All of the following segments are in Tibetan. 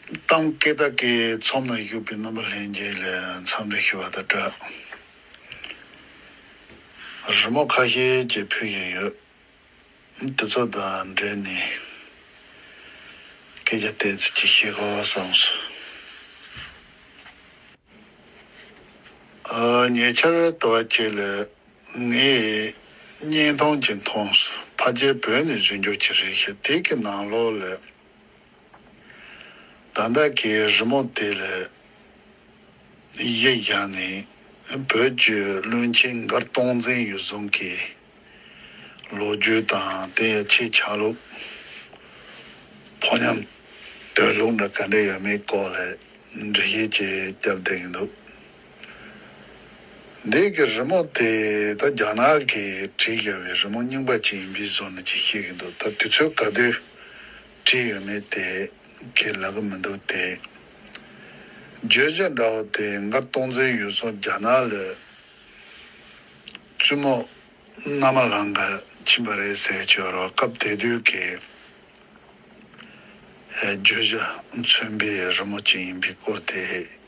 གཏམ་སྐད་བདག་གི་ཚོམ་ན་གཡུག་པའི་རྣམ་པ་ལྷན་རྒྱས་ལས་མཚམས་རེ་ཤི་བ་དང་འདྲ། རི་མོ་ཁ་ཤས་ཀྱིས་ཕུལ་བཞིན་ཡོད། དེ་ཚོ་དང་འབྲེལ་ནས་སྐད་ཆ་བལྟས་ཚེ་ཅི་བཤད་དགོས་བསམ་སོང། ཉེ་ཆར་དུ་བ་ཁྱེད་ལ་ངས་བརྙན་ཐུང་ཅིག་མཐོང་སོང་ཕ་རྒྱལ་བོད་ནས་བཞུད་འཇུག་ཅིག་རེད་ཞེས་དེ་གི་ནང་ལོགས་ལས། ད་ལྟ་ཀྱི་རི་མོ་དེ་ལས་གཞི་བཞག་ནས་བོད་བརྒྱུད་བློན་ཆེན་མགར་སྟོང་བཙན་ཡུལ་བཟུང་གི་ལོ་རྒྱུས་དང་དེ་ཡི་ཕྱིའི་ཆགས་ལུགས། ཕོ་ཉམས་དོད་ལུགས་འདྲ་ག་འདྲ་ཡོད་མེད་སྐོར་ལས་འབྲི་གཞི་ཅིག་བརྒྱབ་བསྡད་ཀྱི་འདུག། འདས་ཀྱི་རི་མོ་དེ་ད་རྒྱ་ནག་གི་བྲིས་ཀྱི་བའི་རི་མོ་རྙིང་པ་ཅིག་ཡིན་པའི་བཟོ་ནི་ཅིག་ཤེས་ཀྱི་འདུག་ད་དུས་ཚོད་ག་དུས་བྲིས་ཡོད་མེད་དེ་ཁས་ལ་གི་མི་འདུག་དེ་བརྗོད་བྱ་འདྲ་བོ་དེ་འགར་སྟོང་མཛོད་ཡུལ་ཚོ་རྒྱ་ནག་ལ་བཙུན་མོ་མནའ་མ་ལང་ག་ཕྱིན་པ་རེད་ཟེར་གྱི་ཡོད་རོགས་སྐབས་དེ་དུས་ཀྱི་བརྗོད་བྱ་མཚོན་པའི་རི་མོ་ཅིག་ཡིན་པའི་སྐོར་དེ་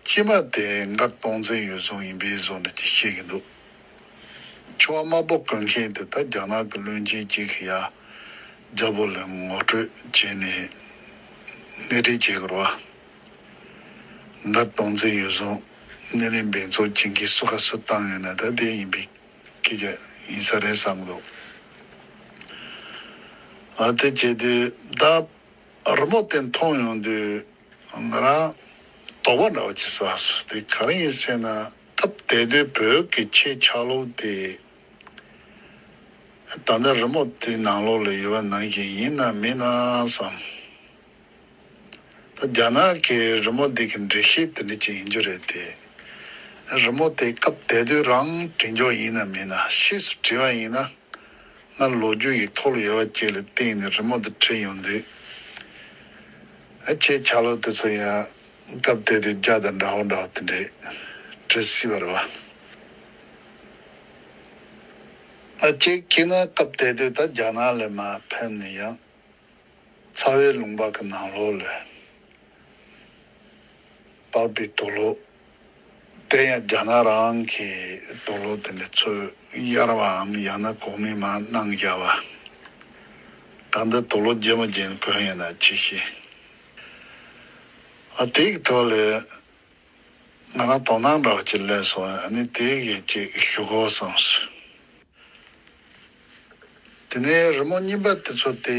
སྐྱེས་པ་དེ་མགར་སྟོང་བཙན་ཡུལ་རྫོང་ཡིན་པའི་བཟོ་འདྲ་ཅིག་བྱེད་ཀྱི་འདུག་འཕྱི་བ་དམར་པོ་བཀོལ་མཁན་དེ་དག་རྒྱ་ནག་གི་བློན་ཆེན་གཅིག་གིས་ཡ་རྒྱ་པོ་ལ་ངོ་སྤྲོད་བྱས་ནས་སྣེ་ཁྲིད་བྱེད་དགོས་རོ། མགར་སྟོང་བཙན་ཡུལ་རྫོང་སྣེ་ལེན་འབེན་ཚོགས་གཅིག་གིས་སུ་ཁ་སུ་བཏང་ཡོད་ན་ད་དེ་ཡིན་པའི་སྐད་ཆ་ཡིན་ས་རེད་བསམ་གི་འདུག་ཨ་དེ་བྱས་དུས་བདག་རི་མོ་དེ་མཐོང་ཡོང་དུས། ང་རང་དོགས་པ་འདྲ་བ་ཅི་ཟ་སུ་དེ་ག་རང་ཡིན་སེ་ན་སྐབས་དེ་དུས་བོད་ཀྱི་ཆེད་ཆགས་ལུགས་དེ་ད་ལྟ་རི་མོ་དེ་ནང་ལོགས་ལ་ཡོད་པ་ནང་བཞིན་ཡིན་ནམ་མིན་ནམ་བསམ། ད་རྒྱ་ནག་གི་རི་མོ་འདི་གི་འགྲེལ་བཤད་དེ་འདྲ་ཅིག་ཡིན་རྒྱུ་རེད་དེ། རི་མོ་དེ་སྐབས་དེ་དུས་རང་བྲིས་འཇོག་ཡིན་ནམ་མིན་ནམ་ཕྱིས་སུ་བྲིས་པ་ཡིན་ན་སྔར་ལོ་རྒྱུས་ཡིག་ཐོག་ལ་ཡོད་པ་བཅས་ལ་བརྟེན་ནས་རི་མོ་འདི་བྲིས་ཡོང་དུས། ཨ་ཁྱེད་ཆ་ལོག་དེ་ཚོ་ཡང་སྐབས་དེ་དུས་རྒྱ་དང་འདྲ་བོ་འདྲ་བོ་དེ་འདྲས་བྲིས་སྲིད་པ་རེད་བ། ཨ་ཁྱེད་ཀྱིས་ན་སྐབས་དེ་དུས་ད་རྒྱ་ནག་ལས་མ་ཕན་ནི་ཡང་ཚ་བའི་ལུང་པ་གི་ནང་ལོགས་ལས་བབས་པའི་དོ་ལོག་དེ་ཡང་རྒྱ་ནག་རང་གི་དོགས་སློབ་དེ་འདྲའི་ཚོད་གཡར་བའམ་ཡང་ན་གོང་མའི་མ་གནང་རྒྱ་བ་དང་འདི་དོགས་སློབ་རྗེས་མ་རྗེས་མ་གོན་ཡོད་ན་ཅི་ཤེས། ཨ་དེའི་ཐོག་ལས་ང་རང་དོ་སྣང་འདྲ་བ་ཅིག་སླེབས་སོང་ཨ་ནི་དེ་གས་ཅིག་ཞུ་དགོས་བསམས་སོ། དེ་ནས་རི་མོ་རྙིང་པ་དེ་ཚོ་དེ།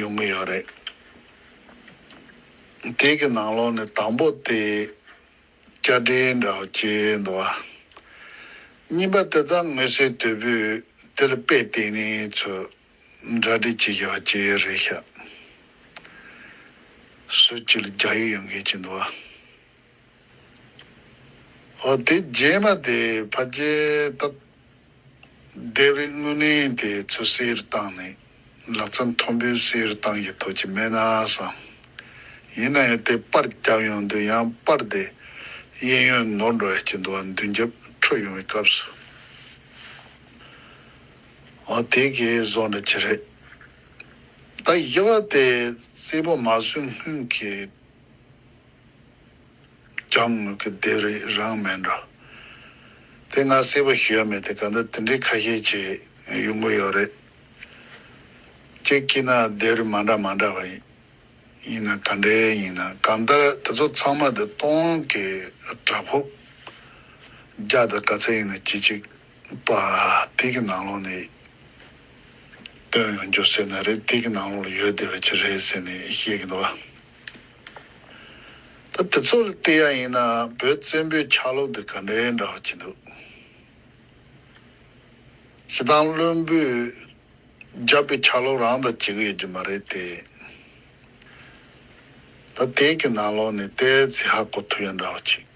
ཡོང་གི་ཡོད་རེད། དེ་གི་ནང་ལོགས་ནས་དང་པོ་དེ་བསྐྱར་འབྲེལ་འདྲ་བ་བྱེད་འདུག་བ། གཉིས་པ་དེ་དག་དངོས་གསལ་དོད་པོས་དེ་ལ་དཔེ་བལྟས་ནས་ཚོས་འདྲ་འབྲེལ་བྱེད་ཀྱི་བ་ཅི་རེད་ཤག། སུ་ཅིག་ལ་རྒྱག་ཡུལ་ཡོང་གི་ཅི་འདུག་བ། དེ་རྗེས་མ་དེ་ཕ་རྒྱལ་སྟབས་བདེ་བའི་དངོས་གནས་དེ་ཚོ་གསེར་བཏང་ནས་ལག་རྩལ་མཐོན་པོའི་གསེར་བཏང་གི་ཐོག་ཅིག་མེད་ན་བསམ། ཡིན་ན་ཡང་དེ་པར་བརྒྱབ་ཡོང་དུས་ཡང་པར་དེ་གཡས་གཡོན་ནོར་འགྲོ་ཡག་གི་འདུག་ཨ་མདུན་རྒྱབ་འཕྲོ་ཡོང་བའི་སྐབས་སུ། ཨོ་དེ་གའི་བཟོ་འདྲ་ཅི་རེད། ད་ཡི་བ་དེ་རྩེད་པོ་མ་བཟོས་སྔོན་གྱི་ཀྱང་ངོས་ཀྱི་སྡེ་རིགས་རང་མེད་འགྲོ། དེ་ང་སྲིད་པ་ཞུ་ཡ་མེད་དེ་གང་ལྟར་དེ་འདྲའི་ཁ་ཤས་ཆེ་ཡོང་གི་ཡོད་རེད། ཁྱེད་ཀྱིས་ན་སྡེ་རིགས་མ་འདྲ་མ་འདྲ་བ་ཡིན་ན་ག་འདྲའི་ཡིན་ན་གང་ལྟར་དེ་ཚོ་ཚང་མ་དེ་སྟོང་གི་བྲག་ཕུག་རྒྱ་དང་ག་ཚད་ཡིན་ན་གྱིས་ཅིག་པ་དེ་གི་ནང་ལོག་ནས་སྟོན་ཡོང་རྒྱུ་ཟེར་ན་རེད་དེ་གི་ནང་ལོག་ལ་ཡོད་བསྡད་པ་ཅིག་རེད་ཟེར་ནས་བཤད་གི་འདུག་བ། ད་དེ་ཚོ་ལ་བལྟས་ཡ་ཡིན་ན་བོད་བཙན་པོའི་ཆགས་ལུགས་འདི་ག་འདྲའི་འདྲ་བ་བྱེད་འདུག། སྤྱི་བཏང་བློན་པོས་བརྒྱབ་པའི་ཆགས་ལུགས་རང་དང་གཅིག་ཡོད་རྒྱུ་མ་རེད་དེ། ད་དེ་གི་ནང་ལོགས་ནས་ལྟས་ཚེ་ཧ་གོ་ཐུབ་ཡ་འདྲ་བ་བྱེད།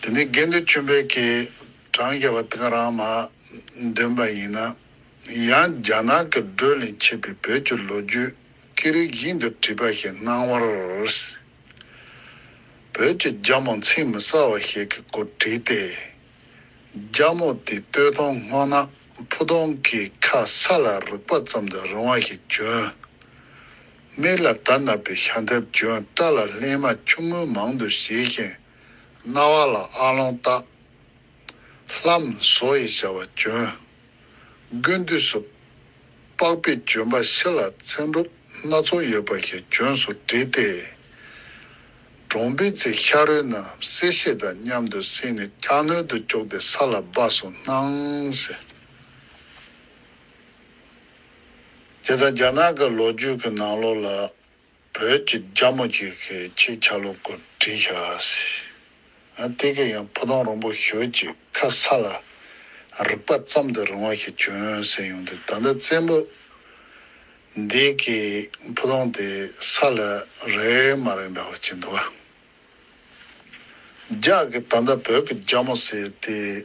དེ་ནས་དགེ་འདུན་བཅོམ་པས་ཀྱེ། བགྲང་བྱ་བ་འདི་ང་རང་མ། འདོན་པ་ཡིན་ན། ཡང་རྒྱ་ནག་གི་བགྲོས་ལས་མཆེད་པའི་བོད་ཀྱི་ལོ་རྒྱུས་ཀྱི་རིགས་བཞིན་དུ་བྲིས་པ་ཞིག་སྣང་བར། བོད་ཀྱི་རྒྱ་མོ་མཚན་མི་གསལ་བ་ཞིག་གི་སྐོར་བྲིས་ཏེ། རྒྱ་མོ་དེ་སྟོད་སྟོང་སྔོ་ནག་ཕུ་སྟོང་གི་ཁ་ས་ལ་རུག་པ་ཙམ་དུ་རིང་བ་ཞིག་གྱོན། མིག་ལ་དར་ནག་པའི་ཤ་འདེབས་གྱོན་སྐྲ་ལ་ལྷེན་མ་ཆུང་ངུ་མང་དུ་བྱས་ཤིང། རྣ་བ་ལ་ཨ་ལོང་བཏགས། ལྷ་མོ་བཟོ་ཡི་བྱ་བ་བྱོན། དགུན་དུས་སུ། པགས་པའི་ལྗོན་པ་ཕྱི་ལ་ཚན་སྒྲུབ་སྣ་ཚོགས་ཡོད་པ་ཞིག་ལྗོན་སུ་བྲིས་ཏེ། གྲོང་པའི་ཚེ་ཤ་རུས་རྣམས་བསྲེས་ཤེད་དང་མཉམ་དུ་བསྲེས་ནས་སྐྱག་སྣོད་དུ་བཅུག་སྟེ་ས་ལ་སྦ་སོ་སྣང། དེ་ལྟར་རྒྱ་ནག་གི་ལོ་རྒྱུས་ཀྱི་ནང་ལོགས་ལ། བོད་ཀྱི་རྒྱ་མོ་གཅིག་གི་ཆེད་ཆ་ལུགས་སྐོར་བྲིས་ཤག་ཟེར། ཨ་ཏི་ཀས་ཡང་ཕུ་ཐུང་རོང་པོ་ཞོལ་གྱི་ཁ་ས་ལ་རིག་པ་བརྩམས་དུ་རུང་བ་ཞིག་བྱོན་ཟེར་ཡོང་དུས་ད་ལྟ་བཙན་པོ་འདས་ཀྱི་ཕུ་ཐུང་དེ་ས་ལ་རེག་མ་རེག་འདྲ་བ་བྱེད་འདུག་ཨ། རྒྱ་གིས་ད་ལྟ་བོད་ཀྱི་རྒྱ་མོ་ཟེར་ཏེ།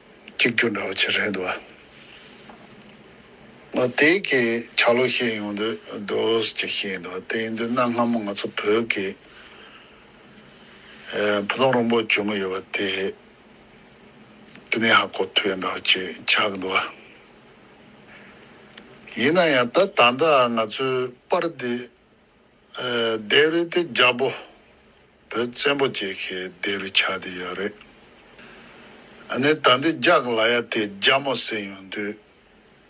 གཅིག་གྱུར་འདྲ་བོ་བྱེད་རན་འདུག་ཨ། དེ་གའི་ཆག་ལོ་ཤེས་ཡོང་དུས་དོལ་ཅིག་ཤེས་ཡིན་འདུག་དེ་ཡིན་དུས་གནའ་སྔ་མོ་ང་ཚོ་བོད་ཀྱི་བུ་ལོང་རོང་པོ་བྱུང་གི་ཡོད་པ་དེ་དེ་ནས་ཧ་གོ་ཐུབ་ཡོད་འདྲ་བོ་ཅིག་ཆག་གི་འདུག་ཨ། ཡིན་ན་ཡང་ད་ད་ལྟ་ང་ཚོའི་པར་འདི། སྡེ་རི་དེ་རྒྱ་བོ་བོད་བཙན་པོ་བཅས་ཀྱི་སྡེ་རུ་ཆགས་བསྡད་ཡོད་རེད། ཨ་ནེ་ད་འདི་རྒྱག་ལ་ཡ་དེ་རྒྱ་མོ་ཟེར་ཡོང་དུས་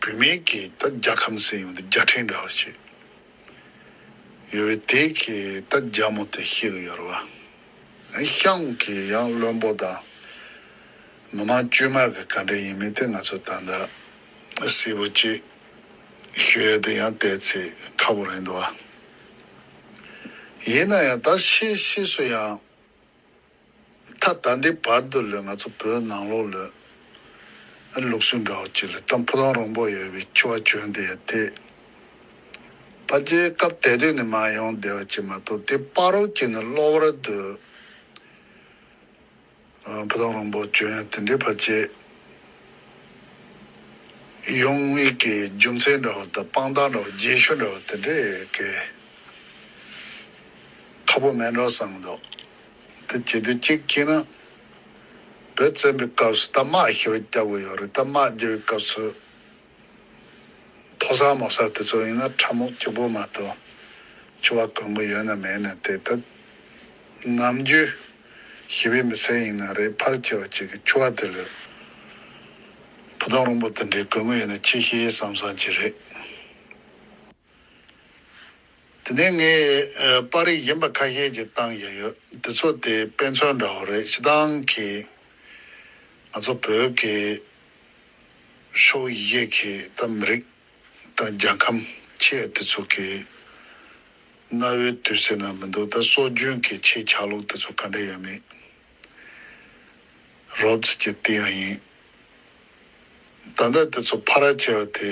བུད་མེད་ཀྱིས་ད་རྒྱ་ཁམས་ཟེར་ཡོང་དུས་རྒྱ་ཕྲན་འདྲ་བོ་ཞིག་ཡོད་བས་དེ་གིས་ད་རྒྱ་མོ་དེ་ཤེས་གི་ཡོད་རེད་བ། ཨེ་ཤང་གི་ཡང་བློན་པོ་དང་མི་མང་བཅོས་མ་གི་ག་འདྲ་ཡིན་མིན་དེ་ང་ཚོ་ད་ལྟ་གསལ་བོ་ཅི། ཞེས་དེ་ཡང་བལྟས་ཚེ་ཁག་པོ་རེད་འདུག་ཨ། ཡིན་ན་ཡང་ད་ཤེས་ཤེས་སུ་ཡང། ད་ལྟ་འདི་བར་དུ་ལོས་ང་ཚོ་བོད་ནང་ལོག་ལོས། ལུགས་སྲོལ་འདྲ་བོ་གཅིག་ལས་ཏམ་ཕོ་ཐང་རོང་པོ་ཡོད་པའི་ཆུ་བ་གྱོན་བསྡད་དེ། ད་རྒྱལ་ཁབ་དེ་དུས་ནས་མ་ཡོང་བསྡད་པ་གཅིག་མ་གཏོགས་དེ་དཔའ་རོགས་ཀྱིས་ནི་གློ་བར་དུ། བུ་དང་རོང་པོ་ཇོ་ཡང་དེ་འདྲའི་བར་བཅད། གཡུང་དབྱུག་གི་རྒྱུ་མཚན་འདྲ་བོ་དང་དཔང་རྟགས་འདྲ་བོ་རྒྱན་ཤོ་འདྲ་བོ་དེ་འདྲས་བཀལ། ཁ་པོ་མེད་འགྲོ་བསམ་མདོག་དེ་བྱེད་དུས་གཅིག་སྐྱིད་ན། བོད་བཙན་པོའི་སྐབས་སུ་རྟ་དམག་ཞེས་པ་བསྐྱབས་དགོས་ཡོད་རེད་རྟ་དམག་བསྐྱབས་པའི་སྐབས་སུ། མཐོ་ས་དམའ་ས་དེ་ཚོར་ཡིན་ན་ཁྲབ་རྨོག་སྐྱིགས་པོ་མ་གཏོགས་ཆུ་བ་དཀོན་པོ་ཡོད་ན་མེད་ནས་དེ་དུད། ནམ་རྒྱུན། ཞི་བའི་མི་སེར་ཡིན་ན་རེད་ཕར་ཆེ་བ་ཅིག་གིས་ཆུ་བ་དེ་ལོས། བུ་སྟོང་རོང་པོ་དེ་འདྲའི་དགོས་མཁོ་ཡོད་ན་ཆེ་ཤེས་ཡེ་བསམ་བསམ་གྱི་རེད། དེ་ནས་ངས་པར་རིས་གཞན་པ་ཁ་ཤས་ཀྱིས་བཏང་བཞིན་ཡོད་དེ་ཚོ་དེ་དཔེ་མཚོན་འདྲ་བོ་རེད་ཤི་ཏང་གིས་ང་ཚོ་བོད་ཀྱི་ཕྱོགས་ཡི་གེ་གིས་ད་མི་རིགས་དང་རྒྱལ་ཁམས་ཁྱེད་དེ་ཚོ་གི་གནའ་བོའི་དུས་ཟེར་ན་མི་འདུག་ད་སྲོལ་རྒྱུན་གྱི་ཁྱེད་ཆགས་ལུགས་དེ་ཚོ་ག་འདྲ་ཡོད་མེད་རོབ་ཙི་ཀྱི་དེ་ཡང་ཡིན་ད་ལྟ་དེ་ཚོ་ཕ་ར་བྱེད་པ་དེ་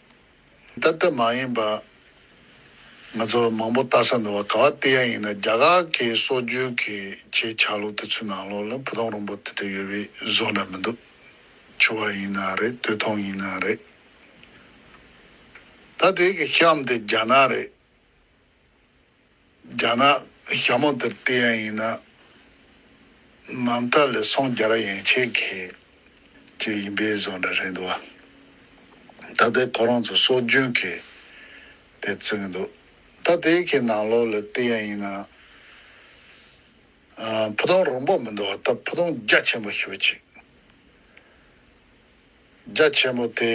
བདག་ལྟ་མ་ཡིན་པ། ང་ཚོ་མང་པོ་ལྟ་ས་འདུག་བ་ག་བ་སྟེ་ཡ་ཡིན་ན་རྒྱ་གར་གི་སྲོག་རྒྱུན་གྱི་ཆེད་ཆགས་ལུགས་དེ་ཚོའི་ནང་ལོགས་ལ་བུ་སྟོང་རོང་པོ་དེ་དེ་ཡོད་བའི་བཟོ་ན་མི་འདུག་ཆུ་བ་ཡིན་ན་རེད་སྟོད་ཐུང་ཡིན་ན་རེད། ད་དེའི་གི་གཤམ་དེ་རྒྱ་ནག་རེད། རྒྱ་ནག་ཞྭ་མོ་འདིར་བལྟས་ཡང་ཡིན་ན་ནམ་ད་ལེ་སོང་རྒྱ་ར་ཡན་ཆད་མཁས་ཀྱི་ཡིན་པའི་བཟོ་འདྲ་རེད་འདུག་བ་ད་ལྟའི་ཁོ་རང་ཚོ་སྲོལ་རྒྱུན་མཁས་དེ་བརྩི་གི་འདུག་ད་དེའི་ཁའི་ནང་ལོགས་ལ་བལྟས་ཡང་ཡིན་ན་ཕུ་ཐུང་རོང་པོ་མི་འདུག་བ་ད་ཕུ་ཐུང་རྒྱ་ཆེན་པོ་ཞིག་བ་ཅིག་རྒྱ་ཆེན་པོ་དེ་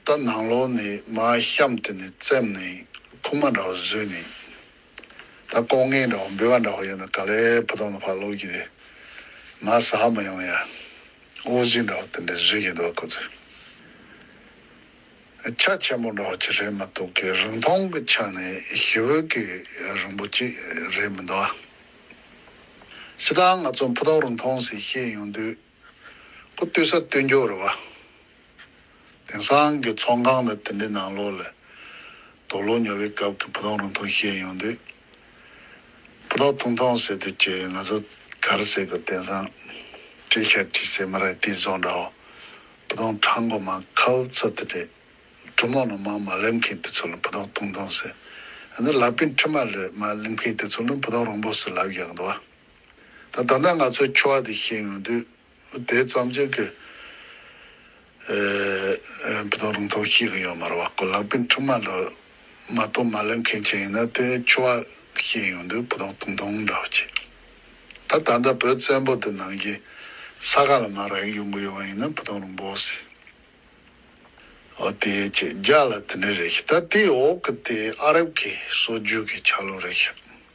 ད་ནང་ལོགས་ནས་མ་བཤམས་དེ་ནས་བཙེམས་ནས་ཁུག་མ་འདྲ་བོ་བཟོས་ནས་ད་ལྐོག་རྔན་འདྲ་བོ་འབུལ་བ་འདྲ་བོ་ཡོད་ན་ག་ལེ་བུ་དོང་ལ་ཕར་ལོག་གྱིས་དེ་མ་བཟའ་མ་ཡོང་ཡ་འོ་བཞིན་འདྲ་བོ་དེ་འདྲ་བཟོས་ཀྱིས་འདུག་བ་ཁོ་ཚོས་ཆ་ཆེན་པོ་འདྲ་བོ་ཅིག་རེད་མ་གཏོགས་གི་རིང་ཐུང་གི་ཆ་ནས་ཞི་བོད་ཀྱི་རིང་པོ་ཅིག་རེད་མི་འདུག་ཨ། ཕྱི་ལྟར་ང་ཚོ་བུ་དོང་རིང་ཐུང་ཟེར་བཤད་ཡོང་དུས། ཁོ་ལྟོས་ས་ལྟོས་འགྱོག་རེད་བ། དེང་སང་གི་ཚོང་ཁང་དང་དེ་འདྲའི་ནང་ལོགས་ལས། དོག་ལོ་ཉོ་བའི་སྐབས་ཀྱི་བུ་ཐོང་རུང་ཐོང་བཤད་ཡོང་དུས། བུ་ཐོག་ཐུང་ཐོང་ཟེར་དུས་ཀྱི་ང་ཚོ་གར་ཟེར་དགོས་དེང་སང། བཀྲེས་ཤག་བཀྲིས་ཟེར་མ་རག་དེའི་བཟོ་འདྲ་བ། བུ་ཐོང་གྲང་གོ་མ་ཁ་འུབ་ཚ་དེ་འདྲའི། འབྲུ་མོག་ནང་མར་མ་ལེབ་མཁན་དེ་ཚོ་ལ་བུ་ཐོག་ཐུང་ཐུང་ཟེར། ཡང་ན་ལག་པའི་མཁྲིས་མར་ལེབ་མ་ལེབ་མཁན་དེ་ཚོ་ལ་བུ་ཐོག་རོང་པོ་ཟེར་ལབ་ཡག་འདུག་བ། ད་ལྟ་ང་ཚོའི་ཆོ་ག་དེ་ཤེས་ཡོང་དུས་དེ་ཙམ་ཅིག་གི་བུ་དང་རུང་ཐོག་ཤེས་གི་ཡོད་མ་རེད་བ་གོ་ལག་པའི་འཕྲུལ་མ་ལ་མ་གཏོགས་མ་ལེན་མཁན་ཅིག་ཡིན་ན་དེ་ཆོ་ག་ཤེས་ཡོང་དུས་བུ་དང་དུང་དུང་འདྲ་བ་ཅིག་ད་ད་ལྟ་བོད་བཙན་པོ་དེ་ནང་བཞིན་ས་ག་ལ་མ་རག་ཡོང་གི་ཡོད་བ་ཡིན་ན་བུ་དང་རུང་བོ་སི་ཨོ་དེ་ཅིག་རྒྱ་ལ་དེ་འདྲ་རེད་ཤི་ད་དེའི་འོག་གི་དེ་ཨ་རབ་ཀྱི་སྲོལ་རྒྱུན་གྱི་ཆག་ལོ་རེད་ཤི།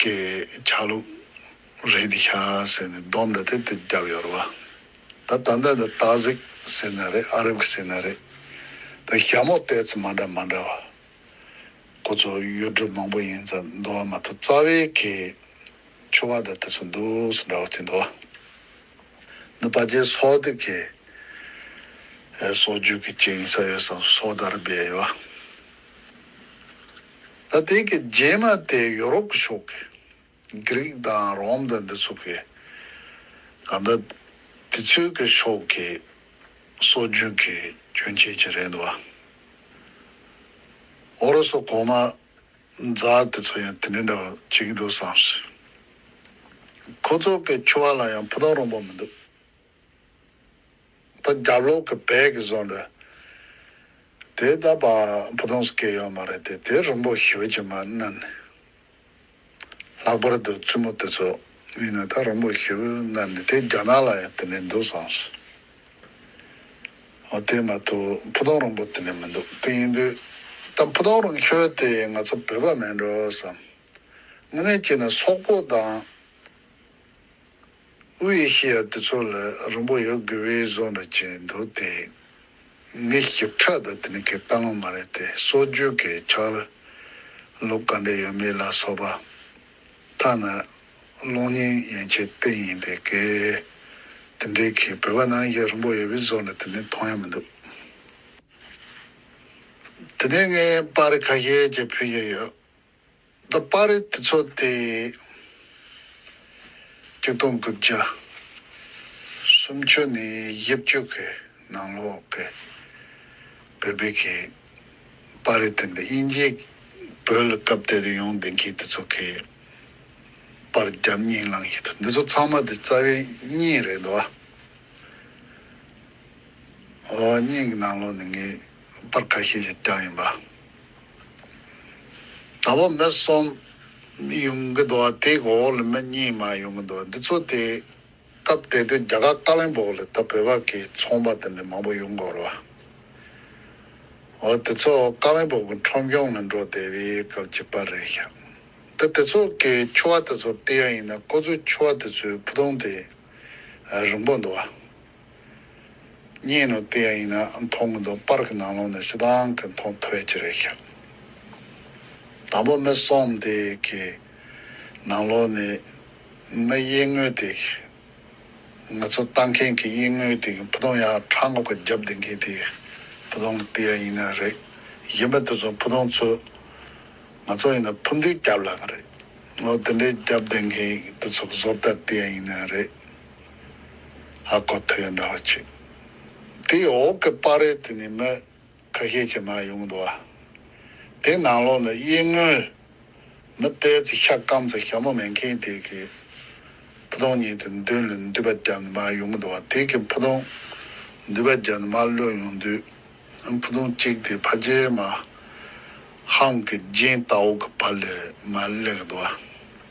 ཀྱི་ཆ་ལུགས་རེད་འདི་ཤ་ཟེར་ནས་སྡོམ་འདྲ་སྟེ་དེ་རྒྱབ་ཡོར་བ་ད་ད་འདི་འདི་ཏཱ་ཟིག་ཟེར་ན་རེད་ཨ་རབ་གི་ཟེར་ན་རེད་ད་ཞྭ་མོ་བལྟས་ཚེ་མ་འདྲ་མ་འདྲ་བ་ཁོ་ཚོ་གཡུ་སྒྲོས་མང་པོ་ཡིན་ཙང་འདུ་བ་མ་ཐུབ་རྩ་བའི་གི་ཆུ་བ་ད་དེ་ཚོ་འདུ་སི་འདྲ་བ་གཅིག་འདུ་བ་འདི་པ་ཇའི་སོག་དི་གི་སོག་རྒྱུད་གི་གཅིག་ཡིན་ས་ཡོད་སང་སོག་དར་སྦས་ཡོད་བ། ད་ལྟའི་གི་རྗེས་མ་དེ་ཡོ་རོབ་གི་ཕྱོགས་ཀྱི་གྷི་རིག་དང་རོམ་དང་འདི་ཚོ་གི་གང་ལྟར་དེ་ཚོའི་གི་ཕྱོགས་ཀྱི་སྲོལ་རྒྱུན་གི་རྒྱུན་ཆད་ཅིག་རེད་འདུག་བ། ཨོ་རོ་སོ་གོང་མ་ཛར་དེ་ཚོ་ཡང་དེ་འདྲའི་འདྲ་བ་བྱེད་ཀྱི་འདུག་བསམ་སོང། ཁོ་ཚོ་གི་ཆུ་བ་ལ་ཡང་ཕུ་ཐང་རོང་པོ་མི་འདུག། ད་རྒྱབ་ལོགས་ཀྱི་བལ་གྱི་བཟོ་འདྲ། དེ་ད་བ་བུ་དོང་སྐད་ཡོད་མ་རེད་དེ་དེ་རིང་པོ་ཞོལ་གྱི་མ་གནན་ནས་ལྷག་པར་དུ་བཙུན་མོ་དེ་ཚོ་གཉིས་ནས་ད་རིང་པོ་ཞོལ་གནན་ནས་དེ་རྒྱ་ནག་ལ་ཡང་དེ་ནས་འདུག་བསམ་སོང། འོ་དེ་མ་ཐུག་བུ་དོང་རིང་པོ་དེ་ནས་མི་འདུག་དེ་ཡིན་དུས་ད་བུ་དོང་རིང་ཞོལ་དེ་ང་ཚོ་བོད་པ་མིན་འགྲོ་བསམ། དངོས་གནས་སྐྱེས་ནས་སོག་པོ་དང། དབུས་ཨེ་ཤེ་ཡ་དེ་ཚོ་ལ་རིང་པོ་ཡོད་དགོས་པའི་བཟོ་འདྲ་བྱས་འདུག་དེ་མི་ཞིབ་ཕྲ་དག་དེ་ནི་གའི་བཀའ་བློན་མ་རེད་དེ་སྲོལ་རྒྱུན་གའི་ཆགས་ལུགས་ག་འདྲ་ཡོད་མེད་ལ་སོགས་པ་ཐ་ན་གློག་བརྙན་ཡན་ཆད་བལྟས་ཡིན་དེ་གའི་དེ་འདྲའི་གའི་བོད་པ་ནང་བཞིན་རིང་པོ་ཡོད་པའི་བཟོ་འདྲ་དེ་ནི་མཐོང་ཡ་མི་འདུག་དེ་ནས་ངས་པར་ཁ་ཤས་ཀྱི་ཕུལ་གྱི་ཡོད་འདི་པར་རིས་དེ་ཚོ་སྟེ། གཅིག་སྟོང་དགུ་བརྒྱ། སུམ་ཅུ་ནས་དབྱིབས་བཅུ་གི་ནང་ལོགས་ཀྱི་བོད་སྤེལ་གྱི་པར་རིས་དེ་འདི་དབྱིན་ཇིའི་བོད་ལ་སྐབས་དེ་དུས་ཡོང་བདེན་མཁན་དེ་ཚོ་གི་པར་རྒྱབ་གཉིས་བླངས་བཞིན་འདུག་འདི་ཚོ་ཚང་མ་དེ་རྩ་བའི་གཉིས་རེད་འདུག་ཨ། ཨོ་གཉིས་ཀྱི་ནང་ལོགས་ནས་ངའི་པར་ཁ་ཤས་ཤིག་བསྐྱངས་ཡིན་པ། ད་བོད་མི་གསུམ་ཡོང་གི་འདུག་དེའི་འོག་ལ་མི་གཉིས་མ་ཡོང་གི་འདུག་འདི་ཚོ་དེ་སྐབས་དེ་དུས་རྒྱ་གར་ཀ་ལན་པོ་ལ་ད་བོད་པ་གི་ཚོང་པ་དེ་འདྲ་མང་པོ་ཡོང་གོ་རོ། འོ་དེ་ཚོ་ཀ་ལན་པོ་གི་ཁྲོམ་གཞུང་ལ་འགྲོ་བསྡད་པའི་སྐབས་ཀྱི་པར་རེད་ཤག་ད་དེ་ཚོ་གི་ཆུ་བ་དེ་ཚོ་སྤེལ་ཡ་ཡིན་ན་ཁོ་ཚོའི་ཆུ་བ་དེ་ཚོའི་ཕུ་ཐུང་དེ་རིང་པོ་འདུག། རྙེད་ནོ་དེ་ཡང་ཡིན་ན་མཐོང་གི་འདུག་པར་གི་ནང་ལོག་ནས་ཤི་དང་གི་མཐོང་ཐོས་ཅི་རེད་ཤག་དང་པོ་མི་སོམས་དེ་གི་ནང་ལོག་ནས་མི་དབྱེ་དངོས་དེ་གི་ང་ཚོ་ལྟ་མཁན་གི་དབྱེ་དངོས་དེ་གི་བུ་སྟོང་ཡང་ཁྲ་འགོག་གི་རྒྱབ་འདེད་མཁན་དེ་གི་བུ་སྟོང་གི་དེ་ཡང་ཡིན་ན་རེད་གཞན་པ་དེ་ཚོ་བུ་སྟོང་ཚོས་ང་ཚོ་ཡིན་ན་ཕུ་འདུལ་རྒྱབ་ལ་གི་རེད་ནོ་དེ་འདྲའི་རྒྱབ་འདེད་མཁན་དེ་ཚོ་གི་བཟོ་ལྟ་དེ་ཡང་ཡིན་ན་རེད། ཨ་ཁོ་ཐུ་ཡ་འདྲ་བ་ཆིག་དེའི་འོག་གི་པར་རེད་དེ་ནི་མི་ཁ་ཤས་ཀྱི་ནང་ཡོང་འདུག་ཨ། དེ་ནང་ལོགས་ལ་དབྱེ་དངོས་མི་བལྟས་ཚེ་ཤ་སྐམ་ཚེ་ཞྭ་མོ་མེད་མཁན་དེ་གི་ཕུ་ཐུང་ཉིད་དུ་མདུན་ལ་མདུད་པ་རྒྱབ་ནས་མར་ཡོང་གི་འདུག་ཨ་དེ་གི་ཕུ་ཐུང་མདུད་པ་རྒྱབ་ནས་མར་གློད་ཡོང་དུས་ཕུ་ཐུང་གཅིག་དེ་ཕ་རྗེས་མ་ཧང་གི་རྒྱན་ལྟ་བུ་གི་བར་ལས་མར་གླེགས་འདུག་ཨ།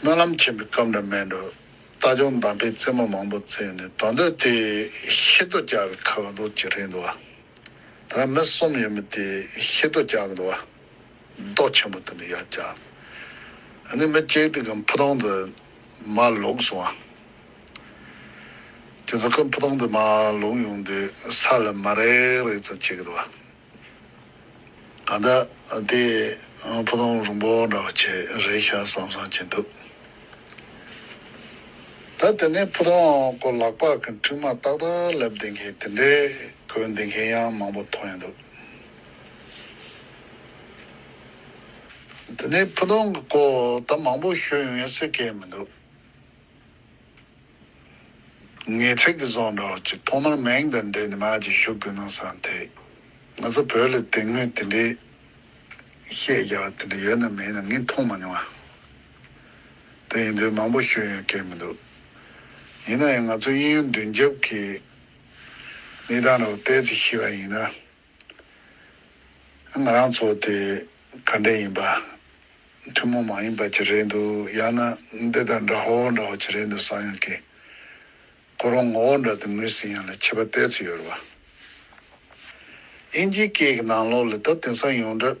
སྨོན་ལམ་ཆེན་པོའི་སྐབས་འདྲ་མེད་འགྲོ། རྟ་ལྗོངས་འདམ་པའི་རྩེ་མོ་མང་པོ་བརྩེགས་ནས་དོ་འདོད་དེ། ཤེལ་རྡོ་བཀྱགས་པའི་ཁ་བ་ལོགས་ཀྱི་རིང་དུ་བ། ད་རང་མི་གསུམ་ཡོད་མོད་དེ་ཤེལ་རྡོ་བཀྱགས་གི་འདུག་བ། རྡོ་ཆེན་པོ་དེ་འདྲ་ཡར་བཀྱགས་ནས་མི་གཅིག་དེ་ཁོའི་ཕུ་ཐུང་དུ་མ་ལོག་སོང་བ། དེ་ཚོ་ཁོའི་ཕུ་ཐུང་དུ་མ་ལོག་ཡོང་དུས་ས་ལ་མ་རེག་རེག་ཙམ་བྱེད་གི་འདུག་བ། ད་ལྟ་དེ་ཕུ་ཐུང་རུང་པོ་འདྲ་བ་ཆེ་རེད་ཤག་བསམ་བསམ་བྱེད་འདུག་ད་དེ་ནས་ཕུ་ཐུང་སྐོར་ལག་པགས་ཀྱི་མཁྲིག་མ་ཏག་ཏག་ལབ་བསྡད་མཁན་དེ་འདྲའི་གོས་འདེད་མཁན་ཡང་མང་པོ་མཐོང་ཡོད་འདུག་དེ་ནས་ཕུ་ཐུང་གི་སྐོར་ད་མང་པོ་ཤོད་ཡོང་ཡ་སེ་སྐད་མི་འདུག། ངེད་ཚིག་གི་བཟོ་འདྲ་བ་གཅིག་ཐོག་མར་མིང་དང་འབྲེལ་ནས་མ་གཅིག་ཞུ་དགོས་ནོ་བསམ་ཐེ། ང་ཚོ་བོད་ལ་དེ་སྔོན་དེ་འདྲའི་བཤད་རྒྱ་བ་དེ་འདྲ་ཡོད་ནམ་མེད་ནམ་ངས་མཐོང་མ་མྱོང། དེ་ཡིན་དུས་མང་པོ་ཞུ་ཡོང་སྐད་མི་འདུག་ཡིན་ན་ཡང་ང་ཚོ་དབྱིན་ཡུལ་མདུན་རྒྱབ་ཀྱི་གནས་སྟངས་ར་བ་བལྟས་ཚེ་ཤེས་པ་ཡིན་ན། ང་རང་ཚོ་དེ་ག་འདྲས་ཡིན་པ། ཐུན་མོང་མ་ཡིན་པ་ཅིག་རེད་འདུག་ཡང་ན་འདི་དང་འདྲ་བོ་འདྲ་བོ་ཅིག་རེད་འདུག་བསམ་ཡོང་གི། ཁོ་རང་ངོ་བོ་འདྲ་དུ་ངོས་ཟིན་ཡང་ལ་ཆད་པ་གཏད་ཚུལ་ཡོད་རེད་བ། དབྱིན་ཇིའི་སྐད་ཀྱི་ནང་ལོགས་ལས་ད་དེང་སང་ཡོངས་གྲགས་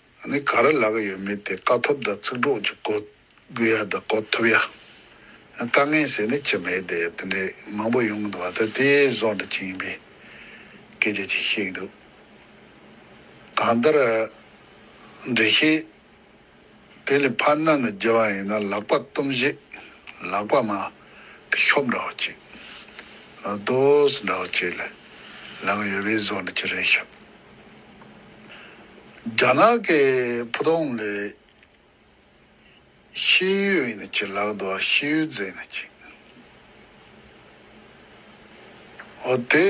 ནི་ག་རེ་ལག་ཡོད་མེད་དེ་བཀའ་ཐོབ་དང་ཚིག་གྲོགས་ཀྱི་གོ་དགོས་ཡ་དང་གོ་ཐུབ་ཡ། དཀའ་ངལ་ཟེར་ནི་ཅི་མེད་དེ་དེ་འདྲའི་མང་པོ་ཡོང་གི་འདུག་བ་ད་དེ་བཟོ་འདྲ་ཅི་ཡིན་པའི་སྐད་ཆ་ཅིག་བཤད་ཀྱི་འདུག་གང་ལྟར། འགྲེལ་བཤད་དེ་ལས་ཕར་སྣ་ནས་བརྒྱལ་བ་ཡིན་ན་ལག་པ་གཏུམ་བཞི་ལག་པ་མ་གི་ཤོབ་འདྲ་བོ་ཅིག། རྡོ་སོ་འདྲ་བོ་ཅིག་ལ་ལག་ཡོད་པས་བཟོ་འདྲ་ཅི་རེད་ཞབས། རྒྱ་ནག་གི་ཕུ་དོང་ལས། ཤི་ཡོད་ཡིན་ན་ཅི་ལགས་འདུག་ཤི་ཡོད་རྫས་ཡིན་ན་ཅི། འོ་དེ་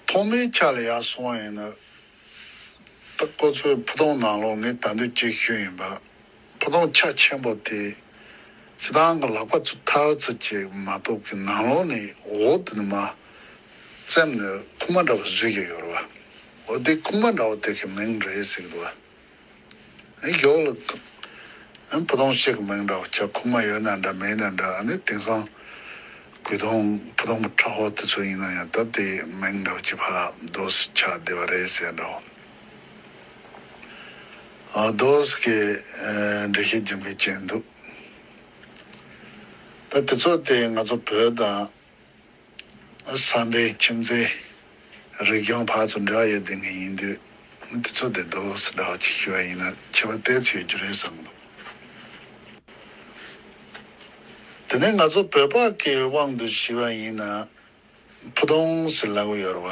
ཐོག་མའི་ཆ་ལ་ཡག་སོང་བ་ཡིན་ན། ད་ཁོ་ཚོའི་ཕུ་དོང་ནང་ལོགས་ནས་ད་འདོད་སྐྱེ་ཤོས་ཡིན་པ། ཕོ་དོང་ཆ་ཆེན་པོ་དེ་ཕྱི་དང་གི་ལག་པ་ཚུ་མཐར་ཚུ་ཅིག་མ་གཏོགས་ཀི་ནང་ལོག་ནི་འོ་དི་ནི་མ། བཙེམ་ནི་ཁུག་མ་འདྲ་བོ་བཟོས་ཀྱི་ཡོད་རེད་བ། འོ་དི་ཁུག་མ་འདྲ་བོ་དེ་གི་མིང་རེད་ཟེར་གི་འདུག་བ། ཨེ་ཡོག་ལ་དང། ཨེ་ཕོ་དོང་ཤེས་གི་མིང་འདྲ་བོ་ཆ་ཁུག་མ་ཡོད་ན་འདྲ་མེད་ན་འདྲ་ཨ་ནི་དེང་སང་གུས་དོང་ཕོ་དོང་པོ་ཁྲ་ཧོ་དི་ཚོ་ཡིན་ན་ཡང་ད་དེ་མིང་འདྲ་བོ་ཅི་ཕ་དོ་སི་ཆ་དེ་བ་རེད་ཟེར་འདྲ་བོ། ཨདོས་ཀྱི་འགྲེལ་བཤད་རྒྱུན་མི་ཆད་འདུག་ད་དེ་ཚོ་སྟེ་ང་ཚོ་བོད་དང། ས་འབྲེལ་ཁྱིམ་མཚེས་རིག་གཞུང་བར་ཚོ་འབྲེལ་བ་ཡོད་ལྡན་མཁན་ཡིན་དུས་དེ་ཚོ་དེ་ཨདོས་འདྲ་བ་ཅིག་ཞུ་བ་ཡིན་ན་ཆེ་བ་སྟེར་ཚུལ་ཡོད་རྒྱུ་རེད་བསམ་འདུག་དེ་ནས་ང་ཚོ་བོད་པ་ཀྱི་དབང་དུ་ཞུ་བ་ཡིན་ན། ཕུ་དོང་སི་ལ་ངུ་ཡོར་བ།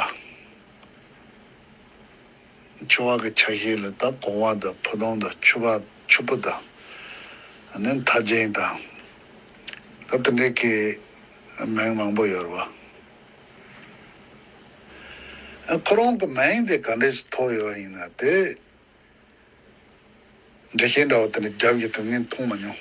ཆུ་བག་གི་ཆ་ཤས་ལ་དྭགས་གོང་བ་དང་ཕུ་དོང་དང་ཆུ་བག་ཆུ་ཕུ་དང་ནི་མཐའ་ཅན་དང། དེ་འདྲའི་སྐད་མིང་མང་པོ་ཡོར་བ། ཁོ་རང་གི་མིང་དེ་ག་འདྲས་སུ་ཐོགས་ཡོར་བ་ཡིན་ན་དེ་འདྲས་ཤེས་འདྲ་བ་དེ་འདྲས་རྒྱབ་ཀྱི་དོན་ངས་མཐོང་མ་མྱོང།